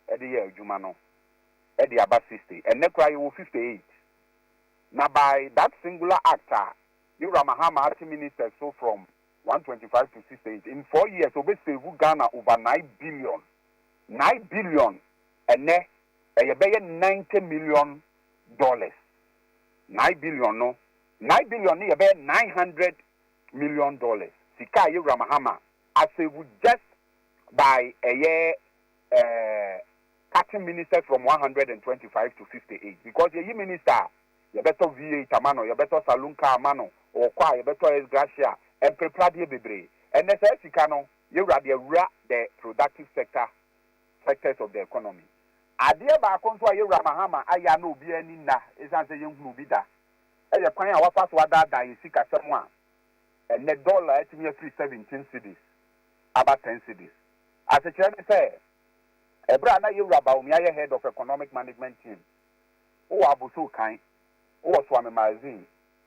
de yɛɛ adwuma no de aba sixty. Ɛnnɛ koraa yɛwɔ fifty eight. Na by that singular act a Me Wura Mahama ate ministers so from one twenty five to six eight in four years ɔbɛ save Ghana over nine billion nine billion ɛnɛ ɛyɛ bɛyɛ ninety million dollars nine billion no nine billion no yɛ bɛyɛ nine hundred million dollars sika a yɛ Wura Mahama a save just by ɛyɛ ɛɛ. cutting ministers from one hundred and twenty five to fifty eight because yɛyi minister a yɛbɛtɔ V eight ama no, yɛbɛtɔ saloon car ama no, ɔkɔ a yɛbɛtɔ S gracia, mprepradeɛ bebree. Ɛnnɛ saa sika no yɛwura de awura the productive sector sectors of the economy. Adeɛ baako nso a yɛwura Mahama ayɛ a na obiara ani nna ɛsiane sɛ yɛnhunuu bi da yɛ kwan a wafa so adaadaa yɛn sikasɛm a ɛnnɛ dollar atumi afiri seventeen cedis aba ten cedis. Asekyerɛ ne sɛ, Ɛberɛ a na Yewura Bawumia yɛ Head of Economic Management Team, wo wɔ abosow kan, wo wɔ Swami Magazine,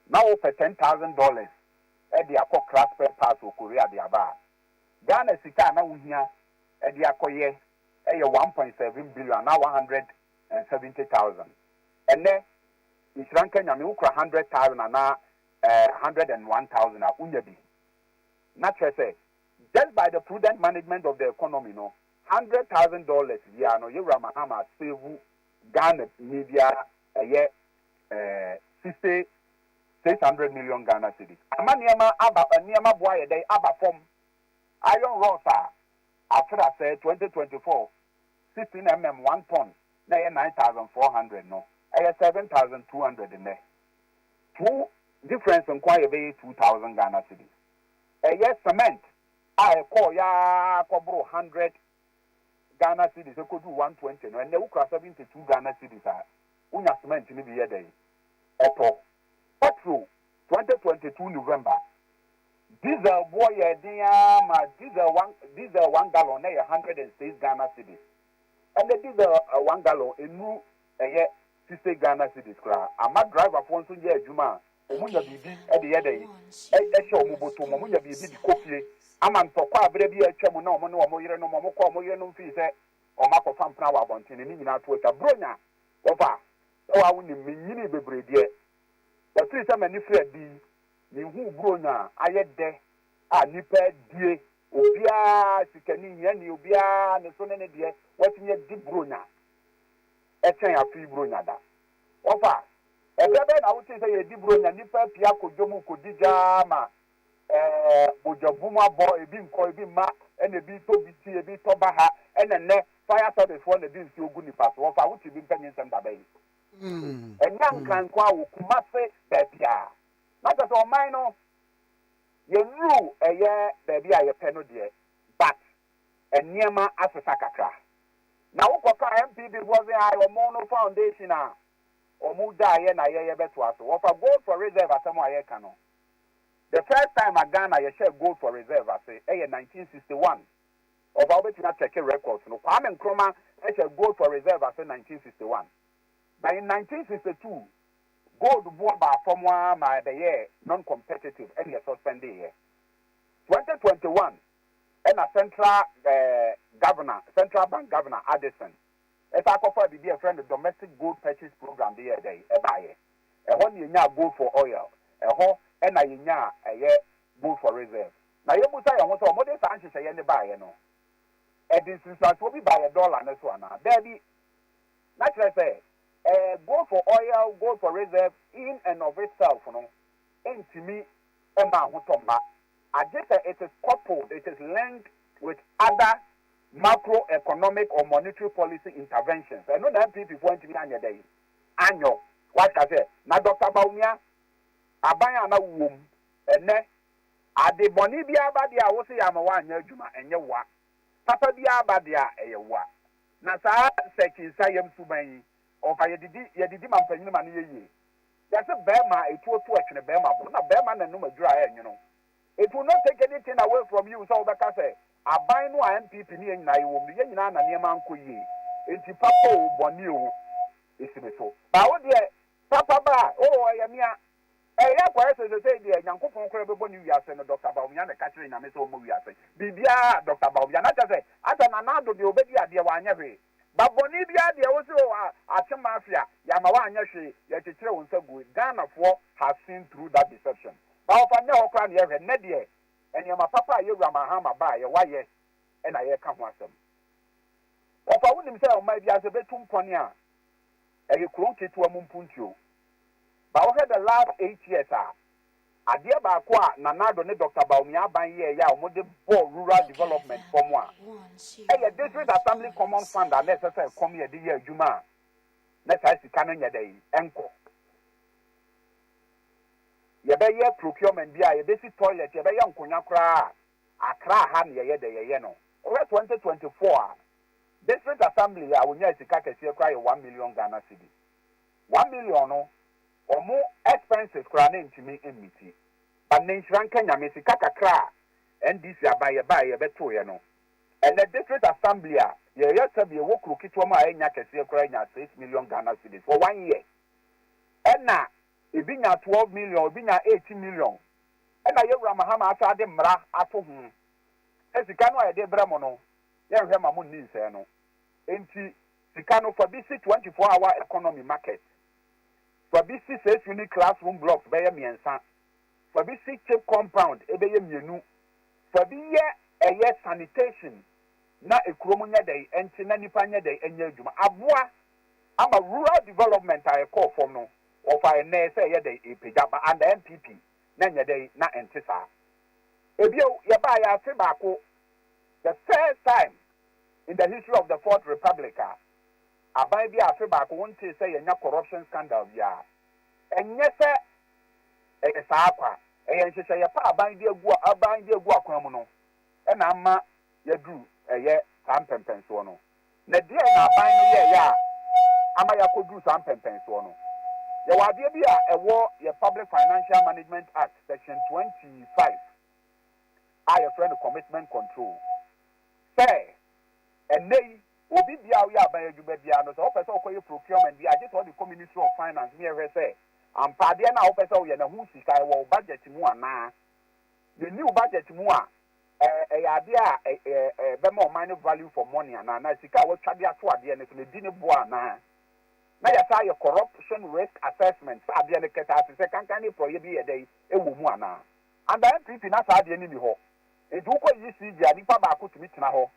na wo pɛ ten thousand dollars de akɔ kra spare parts wɔ Korea de aba a, Ghana sika a na wo hia de akɔ yɛ yɛ one point seven billion anaa one hundred and seventy thousand. Ɛnnɛ, nhyira nka Nyame, wo kura hundred thousand anaa eh, hundred and one thousand a, wo nya bi. Na kyerɛ sɛ, just by the prudent management of the economy no, hundred thousand dollars biara no yewura Mahama save Ghana ni biara ɛyɛ ɛɛ sixty six hundred million Ghana cedis ama nneɛma aba nneɛma bo ayɛ dɛn aba fam iron rods a afere asɛe twenty twenty four sixteen mm one ton na ɛyɛ nine thousand four hundred no ɛyɛ seven thousand two hundred nnɛ two difference nko a yɛbɛyɛ two thousand Ghana cedis ɛyɛ cement. a ɛkɔɔeɛ ara kɔboroo hundred Ghana cedis ɛkɔduu one twenty no, ɛnnɛ wokura seventy two Ghana cedis a, wonya cement no bi yɛ dɛn? Ɛtɔ. Petrol, twenty twenty two November, Diesel boɔ yɛɛ den ara ma diesel one diesel one gallon na ɛyɛ hundred and six Ghana cedis. Ɛnnɛ diesel one gallon ɛnnuru ɛyɛ sixty Ghana cedis koraa. Ama driverfoɔ nso nyɛ adwuma a Wɔnya biribi de yɛ dɛn? Ɛhyɛ wɔn bɔtɔm. Wɔnya biribi de kɔ fie. Ama ntɔkwa a berɛ bi a atwam na wɔne wɔn yerenom, wɔkɔ wɔn yerenom fie sɛ wɔakɔfa mpena wɔ abɔnten no, ne nyinaa to atwa. Buronya, wɔfa a, wo ara wonim. Menyinii bebree deɛ, ɛfiri sɛ m'ani firi adi yi, menhuu buronya a ayɛ dɛ a nnipa adie. Obiara, sikani, hiani, obiara ne so ne ne deɛ, watumi adi buronya kyɛn afe yi buronya da. Wɔfa, Ɛberɛ bɛn na wotee sɛ yɛredi Buronya nnipa apue akɔ dwa mu rekɔdi dwa ara ma ɛɛ bogya bum abɔ, ebi nkɔ, ebi mma, ɛna ebi retɔ bi ti, ebi retɔ ba ha, ɛna nnɛ fire service foɔ na ɛde nsuo gu nnipa so. Wɔfa, Wotee bi mpanyinsɛm da bɛn? Ɛnyɛ Anka nko ara o, Kumase, baabiara. Na kyerɛ sɛ ɔman no, yɛnnuru ɛyɛ baabi a yɛpɛ no deɛ, but nneɛma asesa kakra. Na wokɔ ka MPP foɔ se ae ɔmo no foundation a ɔmo gyaa yɛ na yɛ yɛ bɛtoa so. Wɔfa gold for reserve asɛm a yɛka no the first time a Ghana yɛ hyɛɛ gold for reserve ase ɛyɛ 1961. Ɔfa wobɛtumi a check records no Kwame Nkrumah hyɛɛ gold for reserve ase 1961. Na in 1962 gold boɔ baa fam aa ma ɛbɛyɛɛ non competitive ɛne yɛ suspendee yɛ 2021. Ɛna central governor, central bank governor Addison san kɔfaa biribi a yɛfrɛ no domestic gold purchase program de yɛɛ dɛn? Ɛbaeɛ. Ɛhɔ na yɛnyaa gold for oil, ɛhɔ na yɛnyaa ɛyɛ gold for reserve. Na yɛbisa yɛn ho sɛ, wɔde saa nhyehyɛeɛ no baeɛ no, ɛde nsunsuansoɔ bi baeɛ dɔla no so anaa? Daabi. Na kyerɛ sɛ, gold for oil, gold for reserve in and of itself no, ntumi mma ahotɔ mma, agye sɛ it is coupled, it is linked with other macroeconomic or monetary policy interventions. Ɛno na NPP foɔ antumi anyɛ dɛn anyɔ. Wate ka sɛ, na Dɔkta Bawumia, aban a na wowɔ mu ɛnnɛ, ade bɔne biara ba deɛ a wo se yɛama woanyɛ adwuma, ɛnyɛ woa. Papa biara ba deɛ a, ɛyɛ woa. Na saa Sɛkyi Nsayam suban yi, ɔfa yɛdidi, yɛdidi ma mpanyin ma no yɛ yie. Yɛse bɛɛma a etuo to ɛtwene bɛɛma bo na bɛɛma na nom adwira a ɛɛnwono. It will not take any thing away from you sɛ wobɛka sɛ aban no a NPP ne yɛn nyinaa yɛwɔ mu no yɛn nyinaa na nneɛma ankɔ yie nti papa oo bɔne oo esi me so. Ba wo deɛ papa ba a oo ɛyɛ mea. Ɛyɛ akɔyɛ sɛ sesei deɛ Nyankopɔn koraa bɛbɔ ne wiase no Doctor Bawumia na ɛka kyerɛ Nyame sɛ ɔmmɔ wiase biribiara a Doctor Bawumia na kyerɛ sɛ asɛ Nana Addo deɛ ɔbɛdi adeɛ wanyɛ hwee. Ba bɔne biara deɛ wo se oh ace mafia yɛama wanyɛ hwee yɛkyekyerɛ wo nsa gui Ghana foɔ has seen through that deception ba ɔfa nyɛ hɔ koraa na yɛhwɛ nnɛ deɛ nneɛma papa a yɛwura Mahama baeɛ wayɛ na yɛreka ho asɛm ɔfa wonim sɛ ɔman biara sɛ bɛtu mpɔn a ɛyɛ kuro nketewa mu mpuntuo ba wohwɛ the last eight years a Adeɛ baako a Nana Addo ne Doctor Bawumia Aban yɛɛeɛ a wɔde bɔɔ rural development fam a ɛyɛ District Assembly Common Fund a na ɛsɛ sɛ ɛkɔm yɛ de yɛ adwuma a na saa sika no nyɛ dɛn nkɔ. Yɛbɛyɛ procurement bi a yɛbɛsi toilet, yɛbɛyɛ nkonwa koraa a Accra ha na yɛyɛ dɛ yɛyɛ no. Wohwɛ 2024 a, District Assembly a wɔnyaa sika kɛseɛ koraa yɛ one million Ghana cedi. one million no ɔmo expenses koraa na ɛntumi mmiti but ne nhyira nka Nyame sika kakra a NDC aban yɛbaeɛ yɛbɛtoeɛ no ɛnɛ district assembly a yɛyɛ sɛbi ɛwɔ kuro ketewa mu a ɛnya kɛseɛ koraa nya six million Ghana cedis for one year ɛna ebi nya twelve million ebi nya eighteen million ɛna yɛwura Mahama asaa de mmara ato ho sɛ sika no a yɛde brɛ mo no yɛnhwɛ ma mo nni nsɛɛ no ɛnti Sika no, fa bi si twenty four hour economy market. Fa bi si saa fie no class room blocks bɛyɛ mmiɛnsa. Fa bi si chip compound ɛbɛyɛ mmienu. Fa bi yɛ ɛyɛ sanitation na ekurom nyɛ dɛn ɛnte na nnipa nyɛ dɛn ɛnyɛ adwuma. Aboa ama rural development a ɛkɔɔ fam no wɔfa ɛnnɛ sɛ ɛyɛ dɛn ɛrepagya ba under NPP na ɛnyɛ dɛn na ɛnte saa. Ɛbio yɛbaeɛ afe baako the first time. in the history of the fourth republic a aban bi a afe baako wontee sɛ yɛanya corruption scandal biara. Ɛnyɛ sɛ ɛyɛ saa kwa, ɛyɛ nhyehyɛeɛ pa a aban de agu aban de agu akwan mu no na ama yɛaduru ɛyɛ saa mpɛmpɛnsoɔ no. Na deɛn na aban no yɛeɛ a ama yɛakɔduru saa mpɛmpɛnsoɔ no? Yɛwɔ adeɛ bi a ɛwɔ yɛn Public Financial Management Act, Section 25 a yɛfrɛ no Commitment Control. Sɛ ɛnnɛ yi obi biara a ɔyɛ aban adwuma biara no, sɛ ɔpɛ sɛ ɔkɔyɛ procurement bi a, gye sɛ ɔde kɔ Ministry of Finance ne ɛhwɛ sɛ ampa adeɛ no a wopɛ sɛ woyɛ no ɛho sika ɛwɔ wo budget mu anaa. Deɛ ɛnni wo budget mu a, ɛyɛ adeɛ a ɛbɛma ɔman no value for money anaa, na sika a wɔatwa de ato adeɛ no so no ɛdi ne boɔ anaa. Na yɛasan ayɛ corruption risk assessment sɛ adeɛ no kɛtaa te sɛ kankan ne porɔeɛ bi yɛ dɛn ɛwɔ mu anaa. Under NPP na saa adeɛ no nni hɔ. Enti wokɔ ECG a nipa baako tumi tena hɔ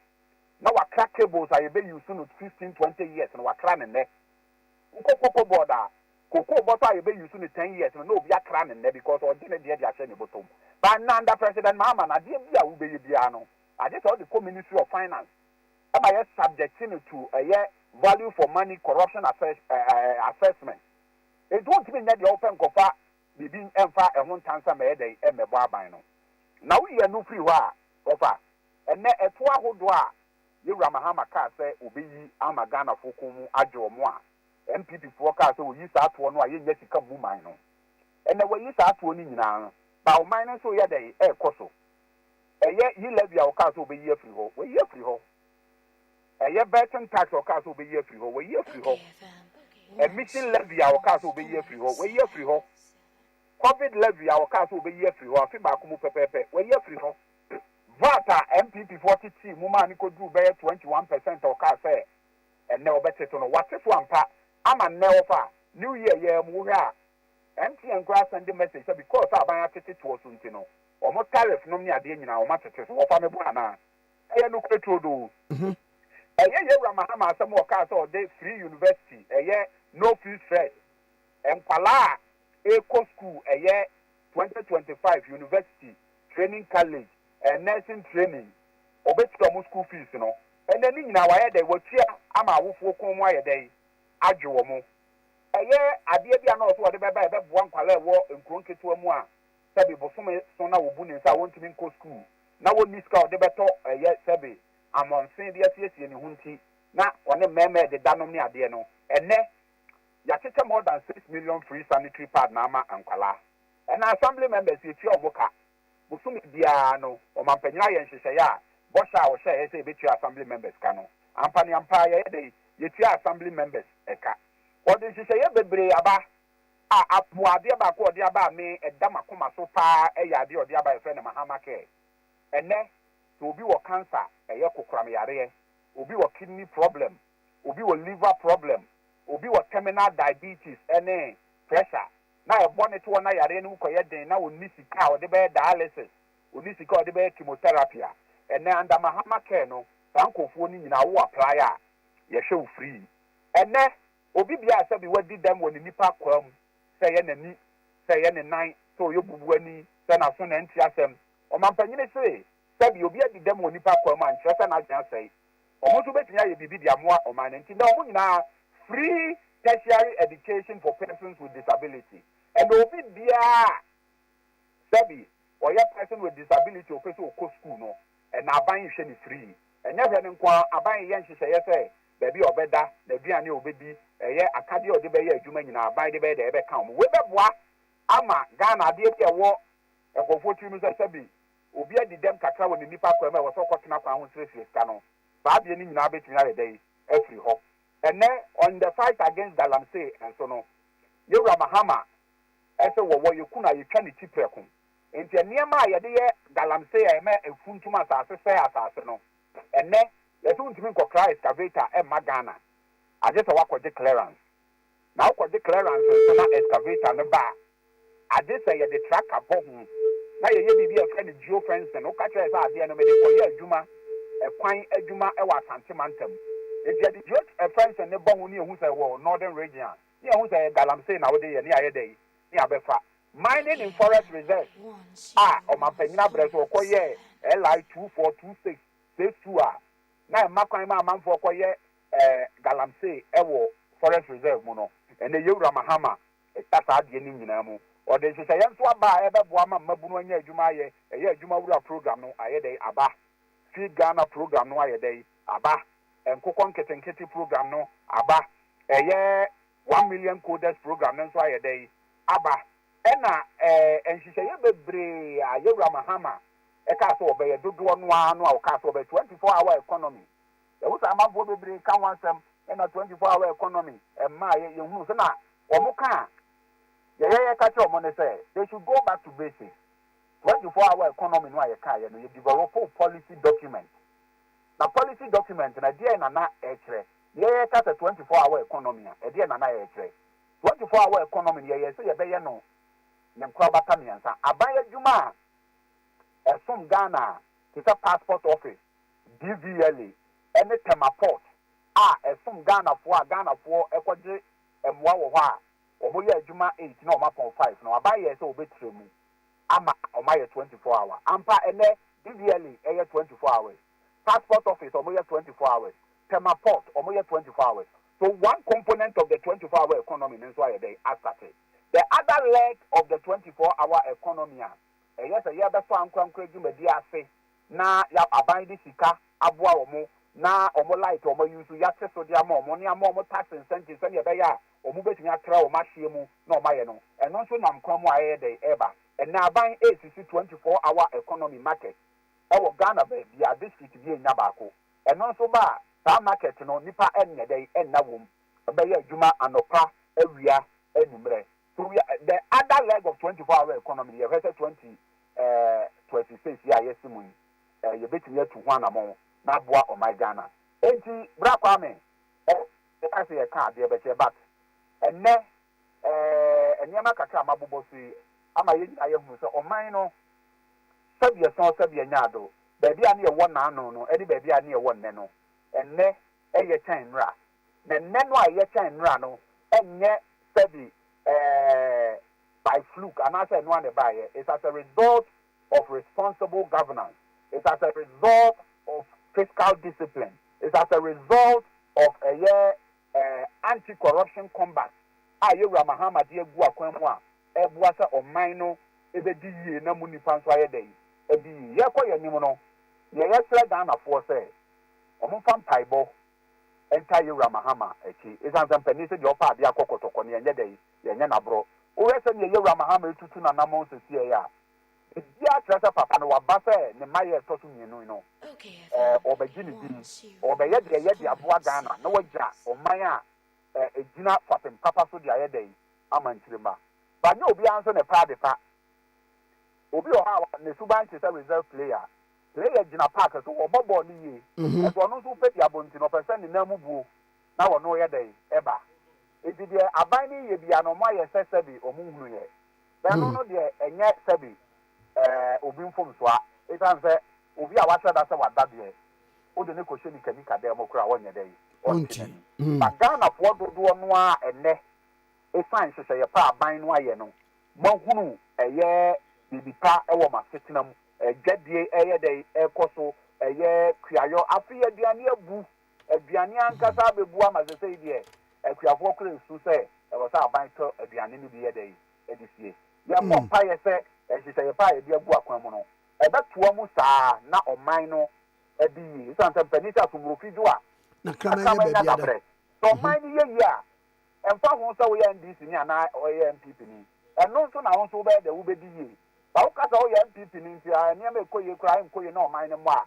na wakra cables a yɛbɛ use no fifteen, twenty years no wakra no nnɛ. Wokɔ cocoa board a cocoa bɔtɔ a yɛbɛ use no ten years no na obi akra no nnɛ because ɔgye ne deɛ de ahyɛ ne bɔtɔ mu. But nnɛ under President Mahama no adeɛ bi a wobɛyɛ biara no agye sɛ wode kɔ Ministry of Finance ma yɛ subject no to ɛyɛ value for money corruption assessment. Enti wontumi nyɛ deɛ wopɛ nkɔfa ne din mfa ɛho ntansa ma ɛyɛ dɛn mmɛbɔ aban no. Na woyi ɛno firi hɔ a, wɔfa. Ɛnnɛ, ɛtoɔ ahodoɔ a Yawura Mahama kaa sɛ ɔbɛyi ama Ghanafoɔ kɔn mu adwo wɔn a NPP foɔ kaa sɛ wɔyi saa toɔ no a yɛnnya sika mmu man no. Ɛnnɛ wɔayi saa toɔ no nyinaa, but ɔman no nso reyɛ dɛn rekɔ so. Ɛyɛ yi levy a wɔkaa sɛ wɔbɛyi afiri hɔ, wɔayi afiri hɔ. Ɛyɛ Burton Tax a ɔkaa sɛ wɔbɛyi afiri hɔ, wɔayi afiri hɔ. Emission Levy a ɔkaa sɛ wɔbɛyi afiri hɔ, wɔayi afiri hɔ. Covid Levy a ɔkaa sɛ wɔbɛyi afiri hɔ afe baako mu pɛpɛɛpɛ, wɔayi afiri hɔ. VAT a NPPfoɔ tetee mu maa no kɔduruu bɛyɛ 21 percent a ɔkaa sɛ ɛnnɛ wɔbɛte so no, wɔate so ampa ama nnɛ wɔfa New Year yi ara mu wohwɛ a, MTN koraa asɛnde message sɛ because a aban atete toɔ so nti no, wɔn tariff nom ne adeɛ nyinaa wɔatete so. Wɔfa me bo anaa? Ɛyɛ nokorɛ turodoo. Ɛyɛ Yawura Mahama asɛm a ɔkaa sɛ ɔde free university, ɛyɛ no fees first, nkwadaa a ɛrekɔ sukuu, ɛyɛ 2025 university training college and nursing training, ɔbɛtua wɔn sukuu fees no. Ɛnnɛ ne nyinaa wayɛ dɛn? Watua ama awofoɔ kɔn mu ayɛ dɛn? Adwe wɔn. Ɛyɛ adeɛ bi a na ɔwɔ sɛ ɔde bɛba a ɛbɛboa nkwadaa a ɛwɔ nkuro nketewa mu a sɛbe bosome so na wɔbu ne nsa a wɔntumi nkɔ sukuu, na wɔnni sika a wɔde bɛtɔ ɛyɛ sɛbe amɔnsen de asiesie ne ho nti, na ɔne mmarima rededa nom ne adeɛ no, ɛnnɛ, yɛakyekyɛ more than six million free sanitary pad no ama nkwadaa. Ɛna Assembly members yɛtua wɔn ka. Bosome biara no, ɔmampanyin ayɛ nhyehyɛeɛ a bɔhyɛ a ɔhyɛeɛ sɛ yɛbɛtua Assembly members ka no, ampa ne ampa ara yɛyɛ dɛn? Yɛtua Assembly members ka. Wɔde nhyehyɛeɛ bebree aba a aboa. Adeɛ baako a ɔde aba a me, ɛda m'akoma so pa ara yɛ adeɛ a ɔde aba a yɛfrɛ no Mahama Care. Ɛnnɛ, sɛ obi wɔ cancer a, ɛyɛ kokoram yareɛ, obi wɔ kidney problem, obi wɔ liver problem, obi wɔ terminal diabetes ne pressure, na ɛbɔ no toɔ na yareɛ no mu kɔyɛ den na ɔnni sika a ɔde bɛyɛ dialysis, ɔnni sika a ɔde bɛyɛ chemotherapy a, ɛnnɛ under Mahama Care no, saa nkorɔfoɔ no nyinaa wo apply a, yɛhwɛ wo free. Ɛnnɛ. Obi biara a sɛbi wadi dɛm wɔ ne nipa akwaa mu, sɛ ɛyɛ n'ani, sɛ ɛyɛ ne nan, sɛ ɔyɛ obubuani, sɛ n'aso na ɛnte asɛm. Ɔmampanyini se, Sɛbi obi adi dɛm wɔ nipa akwaa mu a, nkyerɛ sɛ n'adwene asɛe. Wɔn nso betumi ayɛ biribi de amoa ɔman no. Enti nnɛ wɔn nyinaa Free tertiary education for persons with disability. Ɛnna obi biara a sɛbi ɔyɛ person with disability a ɔpɛ sɛ ɔkɔ sukuu no, ɛnna aban rehwɛ no free. Ɛnyɛ hwɛ no nko ara, aban reyɛ nhyehyɛeɛ sɛ baabi a ɔbɛda, n'aduane a ɔbɛdi, ɛyɛ akadeɛ a ɔde bɛyɛ adwuma nyinaa, aban de bɛyɛ dɛ ɛbɛka wɔn. Wei bɛboa ama Ghana adeɛ bi a ɛwɔ nkurɔfoɔ tiri mu sɛ sɛbi obi adi dɛm kakra wɔ ne nnipa kwan mu a ɛwɔ sɛ ɔkɔtena kwan ho srɛsrɛ sika no, saa adeɛ no nyinaa bɛtumi ayɛ dɛn afiri hɔ. Ɛnnɛ on the fight against galamsey nso no, Yɛwura Mahama sɛ wɔwɔ yɛku no a yɛtwa ne ti prɛko. Nti nneɛma a yɛde yɛ galamsey a ɛma ɛfuntum asase sɛe asase no, Ɛnnɛ, yɛse wontumi nkɔkra excavator mma Ghana, agyesɛ woakɔgye clearance. Na wokɔgye clearance nso na excavator no ba a, agyesɛ yɛde tractor bɔ ho na yɛyɛ biribi a yɛfrɛ no geofencing. Woka kyerɛ yɛ sɛ adeɛ no mede kɔyɛ adwuma, ɛkwan adwuma wɔ Asante mantam. Enti yɛde geofencing no bɔ ho ne yɛhu sɛ ɛwɔ Northern Region a, ne yɛhu sɛ ɛyɛ Galamsey na wode yɛ ne yɛayɛ dɛn? Ne yɛabɛfa. Mining in Forest Reserves a ɔmampanyin abrɛ so ɔkɔ yɛɛ LI two four two six phase two a na ɛma kwan ma amanfoɔ kɔ yɛ galamsey ɛwɔ forest reserve mu no ɛnɛ Yewura Mahama ɛtwa saa adeɛ no nyinaa mu ɔde nhyehyɛeɛ nso aba a ɛbɛboa ma mmabunu anya adwuma ayɛ ɛyɛ adwuma wura program no ayɛ dɛn aba Feed Ghana program no ayɛ dɛn aba nkokɔ nketenkete program no aba ɛyɛ One Million Coders Program no nso ayɛ dɛ yi aba. Ɛna ɛɛ nhyehyɛeɛ bebree a Yɛwura Mahama kaa sɛ ɔbɛyɛ dodoɔ no ara no a ɔkaa sɛ ɔbɛyɛ, 24 hour economy, yɛhu sɛ amanfoɔ bebree ka ho asɛm, ɛna 24 hour economy mmaeɛ, yɛhunu sɛ na wɔn ka a yɛyɛ yɛka kyerɛ wɔn ne sɛ they should go back to basics, 24 hour economy no a yɛkaeɛ no yɛ developoo policy document, na policy document no ɛdeɛn na na ɛkyerɛ? Yɛka sɛ twenty four hour economy a, ɛdeɛn na na yɛrekyerɛ? Twenty four hour economy no, yɛyɛɛ sɛ yɛbɛyɛ no ne nkorabata mmiɛnsa, aban adwuma a ɛsom Ghana a, te sɛ Passport Office, DVLA, ne Tema Port a ɛsom Ghanafoɔ a Ghanafoɔ kɔgye mmoa wɔ hɔ a wɔyɛ adwuma eight na wɔapɔn five no, aban yɛɛ sɛ wɔbɛtra mu ama wɔayɛ twenty four hour. Ampa, ɛnnɛ, DVLA yɛ twenty four hours. Passport office ɔmo yɛ twenty four hours, Tema port ɔmo yɛ twenty four hours, so one component of the twenty four hour economy no nso ayɛ dɛn asate, the other leg of the twenty four hour economy a ɛyɛ sɛ yɛbɛsɔ ankorankora dwumadie ase na ya aban de sika aboa ɔmo na ɔmo light a ɔmo use so yɛate so de ama ɔmo ne ama ɔmo tax incentive sɛnea ɛbɛyɛ a ɔmo bɛtumi atra ɔmo ahyeɛ mu na ɔmo ayɛ no ɛno nso nam kwan mu a ɛyɛ dɛn ɛreba ɛnɛ aban ɛresisi twenty four hour economy market ɛwɔ Ghana baabia district bi ɛnya baako ɛno nso ba a saa market no nipa ɛnyɛ dɛn ɛnna wom ɛbɛyɛ adwuma anɔpa awia anwummerɛ so we are the other leg of twenty four hour economy no yɛhwɛ sɛ twenty twenty six yi a yɛse mu yi eh, yɛbɛtumi atu ho anamɔn na aboa ɔman Ghana enti bra Kwame ɛka sɛ yɛka adeɛ bɛkyɛ but ɛnɛ Ɛɛ, nneɛma kakra a mabobɔ so yi ama yɛn nyinaa yɛahunu sɛ ɔman no sɛdeɛ sɔɔ sɛdeɛ nyaado, baabi a ne yɛwɔ naano no ne baabi a ne yɛwɔ nnɛ no, ɛnnɛ ɛyɛ kyɛn nnora. Na nnɛ no a ɛyɛ kyɛn nnora no ɛnyɛ sɛde ɛɛ by fluke anaasɛ ɛno ara na ɛbaeɛ, it's as a result of responsible governance, it's as a result of fiscal discipline, it's as a result of ɛyɛ Anti-Corruption Combat a Yewura Mahama de agu akwan mu a ɛboa sɛ ɔman no bɛdi yie na mu nnipa nso ayɛ dɛn adi yie. Yɛrekɔ yɛn anim no, deɛ yɛsrɛ Ghanafoɔ sɛ wɔmfa mpaebɔ ntaa Yewura Mahama akyi ɛsiane sɛ mpanin sɛ deɛ ɔpɛ adeɛ akɔ kɔtɔkɔ no yɛnyɛ dɛn, yɛnyɛ no aborɔ. Wohwɛ sɛdeɛ Yewura Mahama retutu n'anammɔn seesei a, Ebi akyerɛ sɛ papa no waba sɛ ne mma yɛ ɛtɔ so mmienu no, ɔrebɛgye ne din, ɔrebɛyɛ deɛ ɛyɛ de aboa Ghana na wagya ɔman a ɛgyina fapem papa so de ayɛ dɛn ama nkyirimma. But nyɛ obiara nso na ɛpɛ adepa. Obi wɔ hɔ a ne suban te sɛ reserve player. Player gyina park so, ɔbɔ bɔɔl no yie, nanso ɔno nso wopɛ diabɔ nti no ɔpɛ sɛ ne nan mu buo na ɔno yɛ dɛn ɛba. Enti deɛ aban no reyɛ biara no wɔayɛ sɛ sɛbe wɔnhunuiɛ. Ɛno no deɛ ɛnyɛ sɛbe ɛɛ obi mfomsoa ɛsiane sɛ obi a wahyɛ da sɛ wada deɛ wode no kɔhyɛ nikanika dan mu koraa ɔnyɛ dɛn? Ɔnte n'ani. But Ghanafoɔ dodoɔ no ara ɛnnɛ ɛsiane nhyehyɛeɛ pa a aban no ayɛ no moahunu ɛyɛ biribi pa wɔ mo asetena mu. Adwadie ɛyɛ dɛn ɛrekɔ so, ɛyɛ kuayɔ, afei aduane abu. Aduane ankasa abebu ama sesei deɛ akuafoɔ kura esu sɛ ɛwɔ sɛ aban tɔ aduane no bi yɛ dɛn de sie. Yɛbɔ mpaeɛ sɛ nhyehyɛeɛ pa a yɛde agu akwan mu no ɛbɛtoa mu saa na ɔman no adi yie esiane sɛ mpanin sɛ asomurofi dwo a na kraman nya dabrɛ. Sɛ ɔman no yɛ yie a, ɛmfa ho sɛ woyɛ NDC ni anaa woyɛ NPP ni, ɛno nso na wo nso wobɛyɛ dɛn wobɛdi yie. Sɛ woka sɛ woyɛ NPP ni nti a nneɛma ɛkɔ yie koraa ɛnkɔ yie na ɔman no mmɔ a,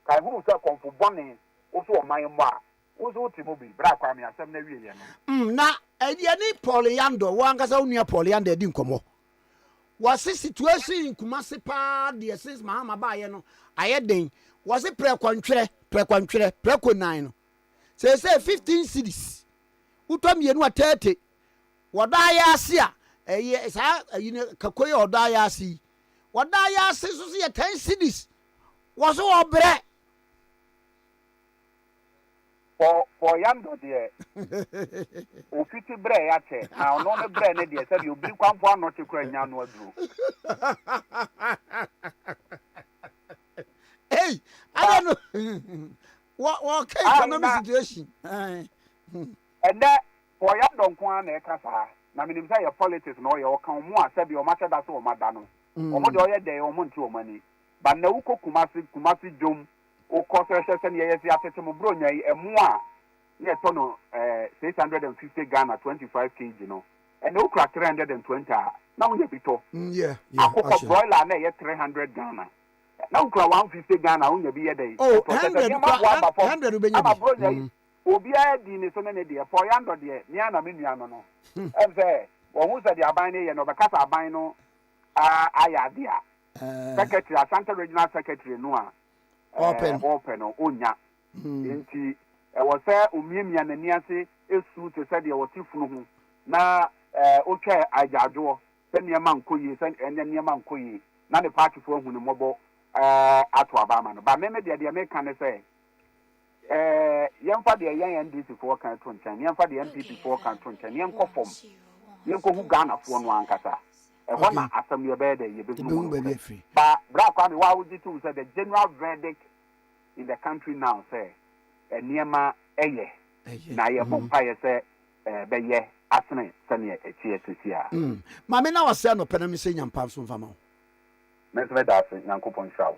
Kae hunu sɛ kɔmfo bɔne woso ɔman mmɔ a, wo nso wote mu bi, bere a Kwame asɛm no awieeɛ no. Mm, na yɛne Paul Yandor, wo ankasa wo nua Paul Yandor adi nkɔmmɔ. Wɔse situation in Kumasi paa deɛ since Mahama baeɛ no ayɛ den. Wɔse prɛko ntwerɛ, prɛko ntwerɛ, prɛko nnan no, seesei 15 cedis, wotɔ mmienu a 30. Wɔdɔ ayaase a, ɛyɛ saa ayi no, kako yi a wɔdɔ ayaase yi, wɔdɔ ayaase nso se yɛ 10 cedis. Wɔ so wɔ brɛ. Wɔ wɔ ya ndɔ deɛ o fiti brɛ ya kyɛ na ɔno ne brɛ ne deɛ sɛdeɛ obiri kwanfo anɔ kye kora nya ano aduro. Ei adɛ no wɔ wɔ ka economic situation. Ɛnɛ wɔ ya ndɔ nko ara na ɛka saa na menim sɛ yɛ politics na ɔyɛ ɔka ɔmo a sɛdeɛ ɔmo ahyɛ da sɛ ɔmo ada no ɔmo deɛ ɔyɛ dɛɛ ɔmo nte ɔmo ani. Ba nnɛ wokɔ Kumasi, Kumasi dwom, wokɔ sɛsɛ sɛnea yɛse atete mo Buronya yi, ɛmo a na yɛtɔ no eh, six hundred and fifty Ghana, twenty five kg no, ɛnnɛ wokura three hundred and twenty a, na wonya bi tɔ. Mm, yeah, yeah, Akokɔ, ahyɛ. broiler a na ɛyɛ three hundred Ghana, na wokura one fifty Ghana a, wonya bi yɛ dɛn? Oh, Ɛtɔ. Kyɛ sɛ hundred nneɛma kora, aboa hun- aba fam. hundred wobɛnya Ama bi. Buronya yi, Mm. obiara di ne so ne ne deɛ. Paul Yandor deɛ, me ara na me nua no no. Ɛm sɛ, wahu sɛdeɛ aban no yɛ no, ɔbɛka sɛ aban no ah, ayɛ adeɛ a, secretary asante regional secretary no a ɔrepɛ no ɔnnya nti ɛwɔ sɛ ɔmiamia n'ani ase ɛsu te sɛ deɛ ɔte funu ho na ɔtwa agyaadwoɔ sɛ nneɛma nkɔ yie sɛ ɛnyɛ nneɛma nkɔ yie na ne paatifoɔ ahu ne mmɔbɔ ato aba ama no ba me me deɛ deɛ meka ne sɛ Ɛɛ, yɛmfa deɛ yɛn NDC foɔ ka to nkyɛn, na yɛmfa deɛ NPP foɔ ka to nkyɛn, na yɛnkɔ fam, yɛnkɔhu Ghana foɔ no ankasa. Ɛhɔ na asɛm no yɛbɛyɛ dɛn? Yɛbɛhunu mu nokorɛ. Ba, Bra Kwame, wo a wogye to mu sɛ the general verdict in the country now sɛ nneɛma ɛyɛ, na yɛbɔ mpaeɛ sɛ ɛbɛyɛ asene sɛdeɛ ɛteɛ seeseiaa. Maame na wase anɔpɛ na me sɛ nya mpa nso mfa ma wo. Me nso meda ase Nyankopɔn nhyira wo.